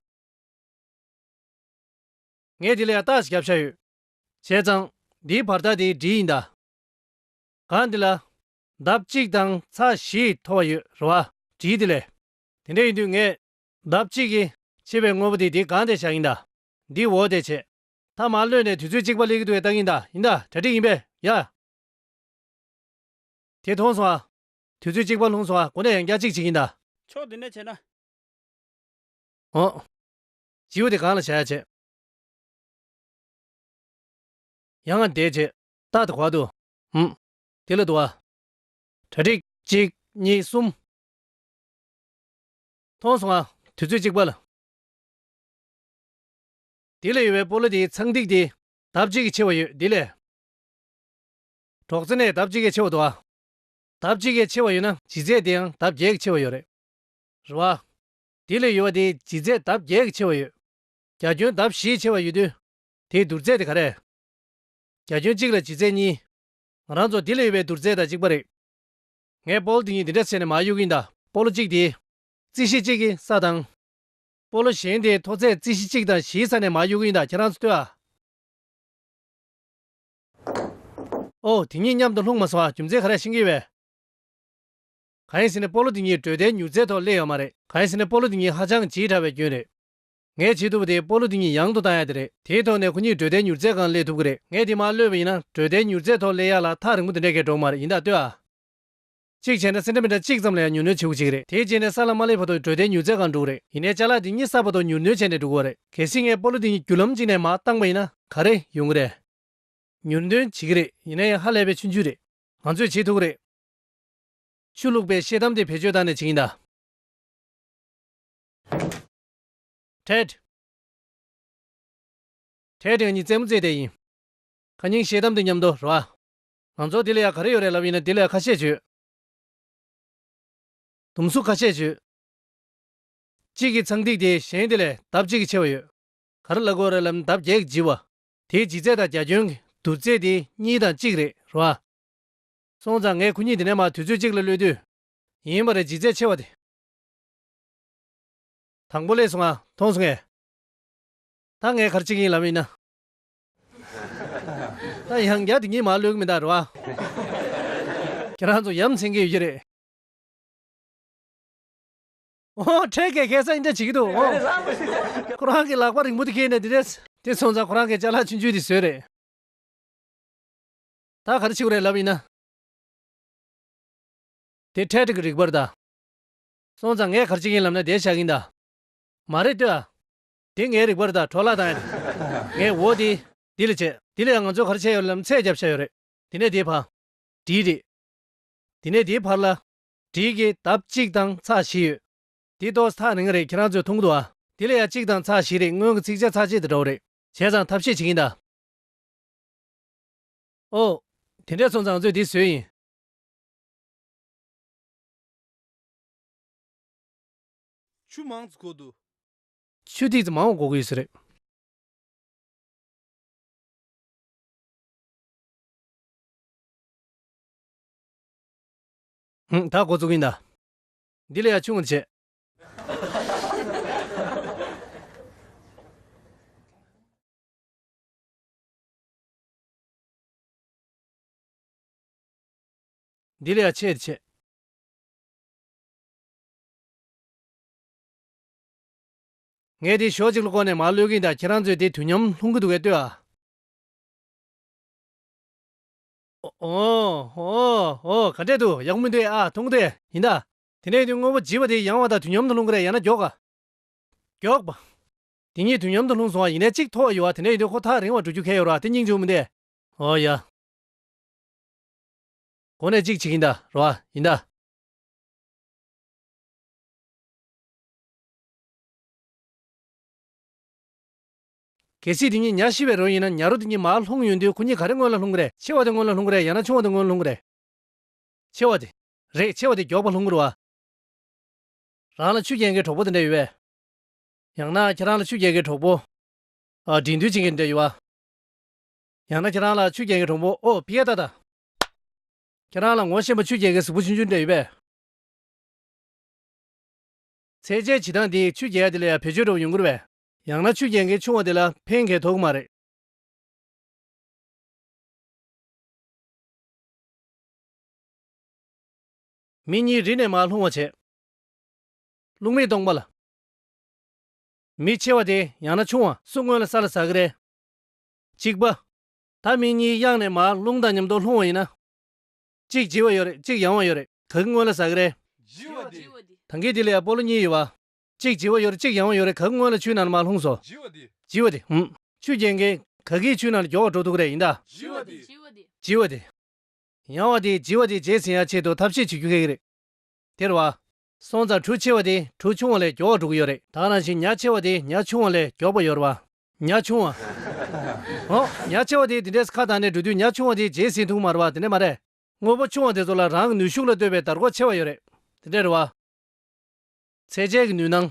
ངས་འདི་ལ་ཡང་བརྟག་བྱ་བྱ་ཡོད། བྱས་ཙང། འདིའི་བར་ཐག་དེ་འདྲི་ཡིན་གདའ། གང་འདི་ལ། ལྡབ་གཅིག་དང་ཚ་བཞི་མཐོ་བ་ཡོད་རེད་བ། བྲིས་དེ་ལས། དེ་འདྲ་ཡིན་དུས་ངས། ལྡབ་གཅིག་གིས་ཕྱེ་བའི་དངོས་པོ་དེ་འདི་གང་འདས་བྱ་ཡིན་གདའ། འདི་འོ་འདས་བྱས། ཐ་མར་གློད་ནས་དུས་ཚོད་གཅིག་པ་སླེབས་ཀྱི་འདུག་བའི་རྟགས་ཡིན་གདའ་ཡིན་གདའ་གྲ་སྒྲིག་ཡིན་པས་ཡ། དེ་མཐོང་སོང་ཨ། དུས་ཚོད་གཅིག་པ་ལྷུང་སོང་ཨ་གོ་ནས་ཡང་བསྐྱར་གཅིག་བྱེད་ཀྱིན་གདའ། ཕྱོགས་འདི་ནས་བྱས་ན། འོ། སྤྱི་བོ་དེ་གང་ལ་བྱ་ཡ་བྱེད། ཡང་ང་འདས་བྱེད། རྟགས་དེ་བར་དུ་འམ། དེ་ལ་དུ་བ། གྲ་སྒྲིག། གཅིག། གཉིས། གསུམ། མཐོང་སོང་ང། དུས་ཚོད་གཅིག་པ་ལ། དེ་ལ་ཡོད་པའི་སྤོ་ལོ་དེའི་ཚངས་ཐིག་དེ། ལྡབ་གཅིག་གིས་ཕྱེ་བ་ཡོད་དེ་ལས། གྲོག་རྩེ་ནས་ལྡབ་གཅིག་གིས་ཕྱེ་བ་དུ་བ། ལྡབ་གཅིག་གིས་ཕྱེ་བ་ཡོད་ན་བྱི་ཚེས་དེའང་ལྡབ་བརྒྱད་ཀྱིས་ཕྱེ་བ་ཡོད་རེད། རེ་བ། དེ་ལས་ཡོལ་བ་དེའི་ལྗིད་ཚད་ལྡབ་བརྒྱད་ཀྱིས་ཆེ་བ་ཡོད། རྒྱ་ཁྱོན་ལྡབ་བཞིའི་ཆེ་བ་ཡོད་དུས། དེའི་བསྡུར་ཚད་དེ་ག་རེད། རྒྱ་ཁྱོན་གཅིག་ལ་ལྗིད་ཚད་གཉིས། ང་རང་ཚོ་དེ་ལས་ཡོལ་བའི་བསྡུར་ཚད་དང་གཅིག་པ་རེད། ངས་སྤོ་ལོ་དེ་གཉིས་འདི་འདྲ་བསྲེས་ནས་མར་གཡུག་གིན་གདའ། སྤོ་ལོ་གཅིག་དེ། རྩིས་གཞི་གཅིག་གི་ས་དང། སྤོ་ལོ་གཞན་དེའི་མཐོ་ཚད་རྩིས་གཞི་གཅིག་དང་བཞིའི་ས་ནས་མར་གཡུག་གིན་གདའ་ཁྱེད་རང་ཚོ་ལྟོས་ཨ། ཨོ། དེ་གཉིས་མཉམ་དུ་ལྷུང་མ་སོང་ཨ་རྒྱུ་མཚན་ག་རེ་ཡང་ཤེས་ཀྱི་ཡོད་བས། གང་ཡིན་ཟེར་ནས་སྤོ་ལོ་འདི་གཉིས་འགྲོས་དལ་མྱུར་རྩལ་ཐོག་སླེབས་ཡོད་མ་རེད། གང་ཡིན་ཟེར་ནས་སྤོ་ལོ་འདི་གཉིས་ཧ་ཅང་བྱེད་དྲགས་པའི་སྐྱོན་རེད། ངས་བྱེད་ཐུབ་པ་དེ་སྤོ་ལོ་འདི་གཉིས་ཡང་དུ་བཏང་ཡག་དེ་རེད། དེའི་ཐོག་ནས་ཁོ་གཉིས་འགྲོས་དལ་མྱུར་རྩལ་གང་སླེབས་ཐུབ་ཀྱི་རེད། ངས་འདི་མ་གློད་པ་ཡིན་ན་འགྲོས་དལ་མྱུར་རྩལ་ཐོག་སླེབས་ཡག་ལ་ཐག་རིང་པོ་དེ་འདྲའི་གས་འགྲོ་མ་རེད་ཡིན་དག་ལྟོས་ཨ། གཅིག་བྱས་ན་སེ་འདྲ་མི་འདྲ་གཅིག་ཙམ་ལ་ཡང་མྱུར་སྣོན་བྱེད་དགོས་ཅིག་རེད་དེ་རྗེས་ནས་ས་ལ་མ་སླེབས་བར་དུ་འགྲོས་དལ་མྱུར་རྩལ་གང་འགྲོ་གི་རེད་ཡིན་ནའི་བཅའ་ལག་འདི་གཉིས་གསར་པ་ཐོག་མྱུར་སྣོན་བྱས་ནས་འགྲོ་དགོས་རེད། གལ་སྲིད་ངས་སྤོ་ལོ་འདི་གཉིས་རྒྱུ་ལམ་གཅིག་ནས་མ་བཏང་པ་ཡིན་ན་ག་རེ་ཡོང་གི་རེད། མྱུར་སྣོན་བྱེད་ཀྱི་རེད་ཡིན་ན་ཡང་ཧ་ལས་པའི་ཆུ་འཇུག་རེད། ང་ཚོས་བྱེད་ཐུབ་ཀྱི་རེད། ཆུ་བླུགས་པའི་ཤེལ་དམ་དེ་བེད་སྤྱོད་བཏང་ནས་བྱེད་ཀྱིན་གདའ། Ted། Ted ང་གཉིས་རྩེད་མོ་རྩེས་བསྡད་ཡིན། ཁ་སྙིང་ཤེལ་དམ་དེ་མཉམ་དུ་རོལ། ང་ཚོར་དེ་ལས་ཡག་ག་རེ་ཡོད་རེད་ལབ་ཡིན་ན་དེ་ལས་ཁ་ཤས་བྱོས། དུམ་སུ་ཁ་ཤས་བྱོས། གཅིག་གིས་ཚངས་ཐིག་དེ་བཞེངས་དེ་ལས་ལྡབ་གཅིག་གིས་ཆེ་བ་ཡོད། ག་རེ་ལ་དགོས་རེད་ལབ་ན་ལྡབ་བརྒྱད་ཀྱིས་ལྗི་བ། དེའི་ལྗིད་ཚད་དང་རྒྱ་ཁྱོན་གྱི་བསྡུར་ཚད་དེ་གཉིས་དང་གཅིག་རེད་རོལ། སོང་ཙང་ངས་ཁོ་གཉིས་འདི་ནས་མར་དུས་ཚོད་གཅིག་ལ་གློད་དུས། ཡིན་པ་རེད་ལྗིད་ཚད་ཆེ་བ་དེ། དང་པོ་ལས་སུ་འང་མཐོང་སོང་ངས། ད་ངས་གར་གཅིག་ཡིན་ལབ་ཡིན་ན། ད་ཡང་བརྒྱ་དེ་གཉིས་མར་གློད་གི་མིན་ད་རེད་བ། ཁྱེད་རང་ཚོ་ཡམ་ཚིང་གི་ཡོད་ཀྱི་རེད། འོ་འཕྲལ་གས་གས་ས་ཡིན་འདྲ་བྱེད་ཀྱི་འདུག་འོ། ཁོ་རང་གི་ལག་པ་རིང་པོ་དེ་གས་ནས་འདི་འདྲས། དེ་སོང་ཙང་ཁོ་རང་གས་ལྕགས་ལྷག་ཆུང་ཆུང་དེ་བཟོས་རེད། ད་གར་འཆི་བ་རེད་ལབ་ཡིན་ན། དེ་འཕྲལ་དྲི་གི་རིག་པར་གདའ། སོང་ཙང་ངས་གར་འཆི་གིན་ལབ་ན་བདེ་ཆགས་གིན་གདའ། མ་རེད་ལྟོས་ཨ། དེ་ངའི་རིག་པར་གདའ་གྲོགས་ལགས་དང་ངས་འོ་དེ། དེ་ལས་བྱེད། དེ་ལ་ཡང་ང་ཚོས་གར་ཆས་ཡོད་རེད་ལབ་ན་ཚད་བརྒྱབ་བྱ་ཡོད་རེད། དེ་ནས་དེའི་བ། དྲིའི་རིག། དེ་ནས་དེའི་བར་ལ། དྲིའི་གི་ལྡབ་གཅིག་དང་ཚགས་བཞི་ཡོད། དེ་ཏོགས་ཐག་རིང་རེད་ཁྱེད་རང་ཚོས་མཐོང་གི་འདུག་ཨ། དེ་ལ་ཡང་གཅིག་དང་ཚགས་བཞི་རེད་སྔོན་གི་ཚིགས་བཅད་ཚགས་བཅད་དེ་འདྲ་བོ་རེད། བྱས་ཙང་ཐབས་ཤེས་བྱེད་གིན་གདའ། ཨོ། དེ་འདྲས་ཚོང་ཙང་ཚོས་འདི་བཟོས་ཡིན། ཆུ་མང་ཙི་གོ་དུ། ཆུ་ཐིག་ཙི་མང་བ་གོ་གི་ཡོད་ས་རེད། ཧུང་ད་གོ་ཙུག་གིན་ད། འདི་ལས་ཡག་ཆུ་ངོ་ཆེ། འདི་ལས་ཆེས་ཆེ། ངས་དེ་ཞོག་ཅིག་ལ་བསྐོར་ནས་མར་གློད་གིན་ད་ཁྱེད་རང་ཚོས་དེ་དུས་མཉམ་ལྷུང་གི་འདུག་བས་ལྟོས་ཨ། ཨོ། ཨོ། ཨོ། ག་འདྲས་འདུག་ཡག་པོ་མི་འདུག་ཨ་ཐུང་གུ་དེ། ཡིན་ད། དེ་ནས་དེ་དངོས་པོ་བརྗིད་པ་དེ་ཡང་བ་ད་དུས་མཉམ་དུ་ལྷུང་གི་རེད་ཡང་ན་མགྱོགས་ཨ། མགྱོགས། དེ་གཉིས་དུས་མཉམ་དུ་ལྷུང་སོང་བ་ཡིན་ནའི་གཅིག་ཐོག་ཡོད་བ་དེ་འདྲས་ཡིན་དུས་ཁོ་ཐག་རིང་བ་འགྲོ་རྒྱུ་གལ་ཡོད་ར་དེ་སྙིང་འཇུག་མི་འདས། འོ་ཡ། གོ་ནས་གཅིག་བྱེད་ཀྱིན་ད་རོ་ཨ། ཡིན་ད། གལ་སྲིད་དེ་གཉིས་ཉྭ་ཤི་བའི་རོ་ཡིན་ན་ཉྭ་རོ་དེ་གཉིས་མར་ལྷུང་ཡོད་དུས་ཁོ་གཉིས་ག་རེ་སྔོན་ལ་ལྷུང་གི་རེད་ཆེ་བ་དེ་སྔོན་ལ་ལྷུང་གི་རེད་ཡང་ན་ཆུང་བ་དེ་སྔོན་ལྷུང་གི་རེད། ཆེ་བ་དེ། རེད་ཆེ་བ་དེ་མགྱོགས་པ་ལྷུང་གི་རུ་ཨ། རང་ལ་ཆུ་རྐྱེན་གྱི་གྲོགས་པོ་དེ་འདྲས་ཡོད་པས། ཡང་ན་ཁྱེད་རང་ལ་ཆུ་རྒྱལ་གྱི་གྲོགས་པོ། དྲིན་དུ་བྱིན་གྱིས་འདྲེ་ཡི་བ། ཡང་ན་ཁྱེད་རང་ལ་ཆུ་རྒྱལ་གྱི་གྲོགས་པོ་ཨོ་བྷི་ཡ་ཏཱ་དང། ཁྱེད་རང་ལ་ངོ་ཤེས་པ་ཆུ་རྒྱལ་གྱི་གཟུགས་པོ་ཆུང་ཆུང་འདྲེ་ཡི་བས། ཚེ་སྐྱེལ་བྱེད་སྟངས་འདིས་ཆུ་རྒྱལ་དེ་ལ་ཡང་བེད་སྤྱོད་འགྲོ་བ་ཡོང་གི་རེད་བས། ཡང་ན་ཆུ་རྒྱལ་གྱི་ཆུང་བ་དེ་ལ་ཕན་གྱི་དོགས་གི་མ་རེད། མི་གཉིས་རི་ནས་མར་ལྷུང་བར་བྱེད། རླུང་མེས་སྟོང་པ་ལ། མི་ཆེ་བ་དེ་ཡང་ན་ཆུང་བ། སུ་སྔོན་ལ་ས་ལ་ཟ་གི་རེད། གཅིག་པ། ད་མི་གཉིས་གཡག་ནས་མར་རླུང་དང་མཉམ་དུ་ལྷུང་བ་ཡིན་ན། གཅིག་ལྗི་བ་ཡོད་རེད་གཅིག་ཡང་བ་ཡོད་རེད་ག་གི་སྔོན་ལ་ཟ་གི་རེད། ལྗི་བ་དེ། ཐང་གའི་དེ་ལ་ཡང་སྤོ་ལོ་གཉིས་ཡོད་བ། གཅིག་ལྗི་བ་ཡོད་རེད་གཅིག་ཡང་བ་ཡོད་རེད་ག་གི་སྔོན་ལ་ཆུའི་ནང་ལ་མར་ལྷུང་སོང། ལྗི་བ་དེ། ལྗི་བ་དེ། ཧུམ། ཆུ་རྒྱན་གན། ག་གིས་ཆུའི་ནང་ལ་སྒྱོགས་བ་འགྲོ་ཐུབ་གི་རེད་ཡིན་ད། ལྗི་བ་དེ། ལྗི་བ་དེ། ཡང་བ་དེ་ལྗི་བ་དེ་བརྗེད་ཟིན་ཡ་ཆེད་དུ་ཐབས་ཤེས་བྱེད་རྒྱུ་ག་གི་རེད། དེར་བ། སྲོང་བཙག་གྲུ་ཆེ་བ་དེ་གྲུ་ཆུང་བ་ལས་མགྱོགས་བ་དྲུག་ཡོད་རེད་ད། རང་བཞིན་ཉག་ཆེ་བ་དེ་ཉག་ཆུང་བ་ལས་མགྱོགས་པ་ཡོད་རེད་བ། ཉག་ཆུང་བ། ཨོ། ཉག་ཆེ་བ་དེ་དེ་འདྲས་ཁ་དང་ནས་འགྲོ་དུས་ཉག་ཆུང་བ་དེ་རྗེས་ཟིན་ཐུང་མ་རེད་བ་དེ་འདྲས་མ་རེད། དངོས་པོ་ཆུང་བ་དེ་ཚོ་ལ་རང་གི་ནུས་ཤུགས་ལ་ལྟོས་པའི་དར་གོ་ཆེ་བ་ཡོད་རེད་དེ་འདྲས་རེད་བ། ཚད་འཇལ་གྱི་ནུས་སྣང།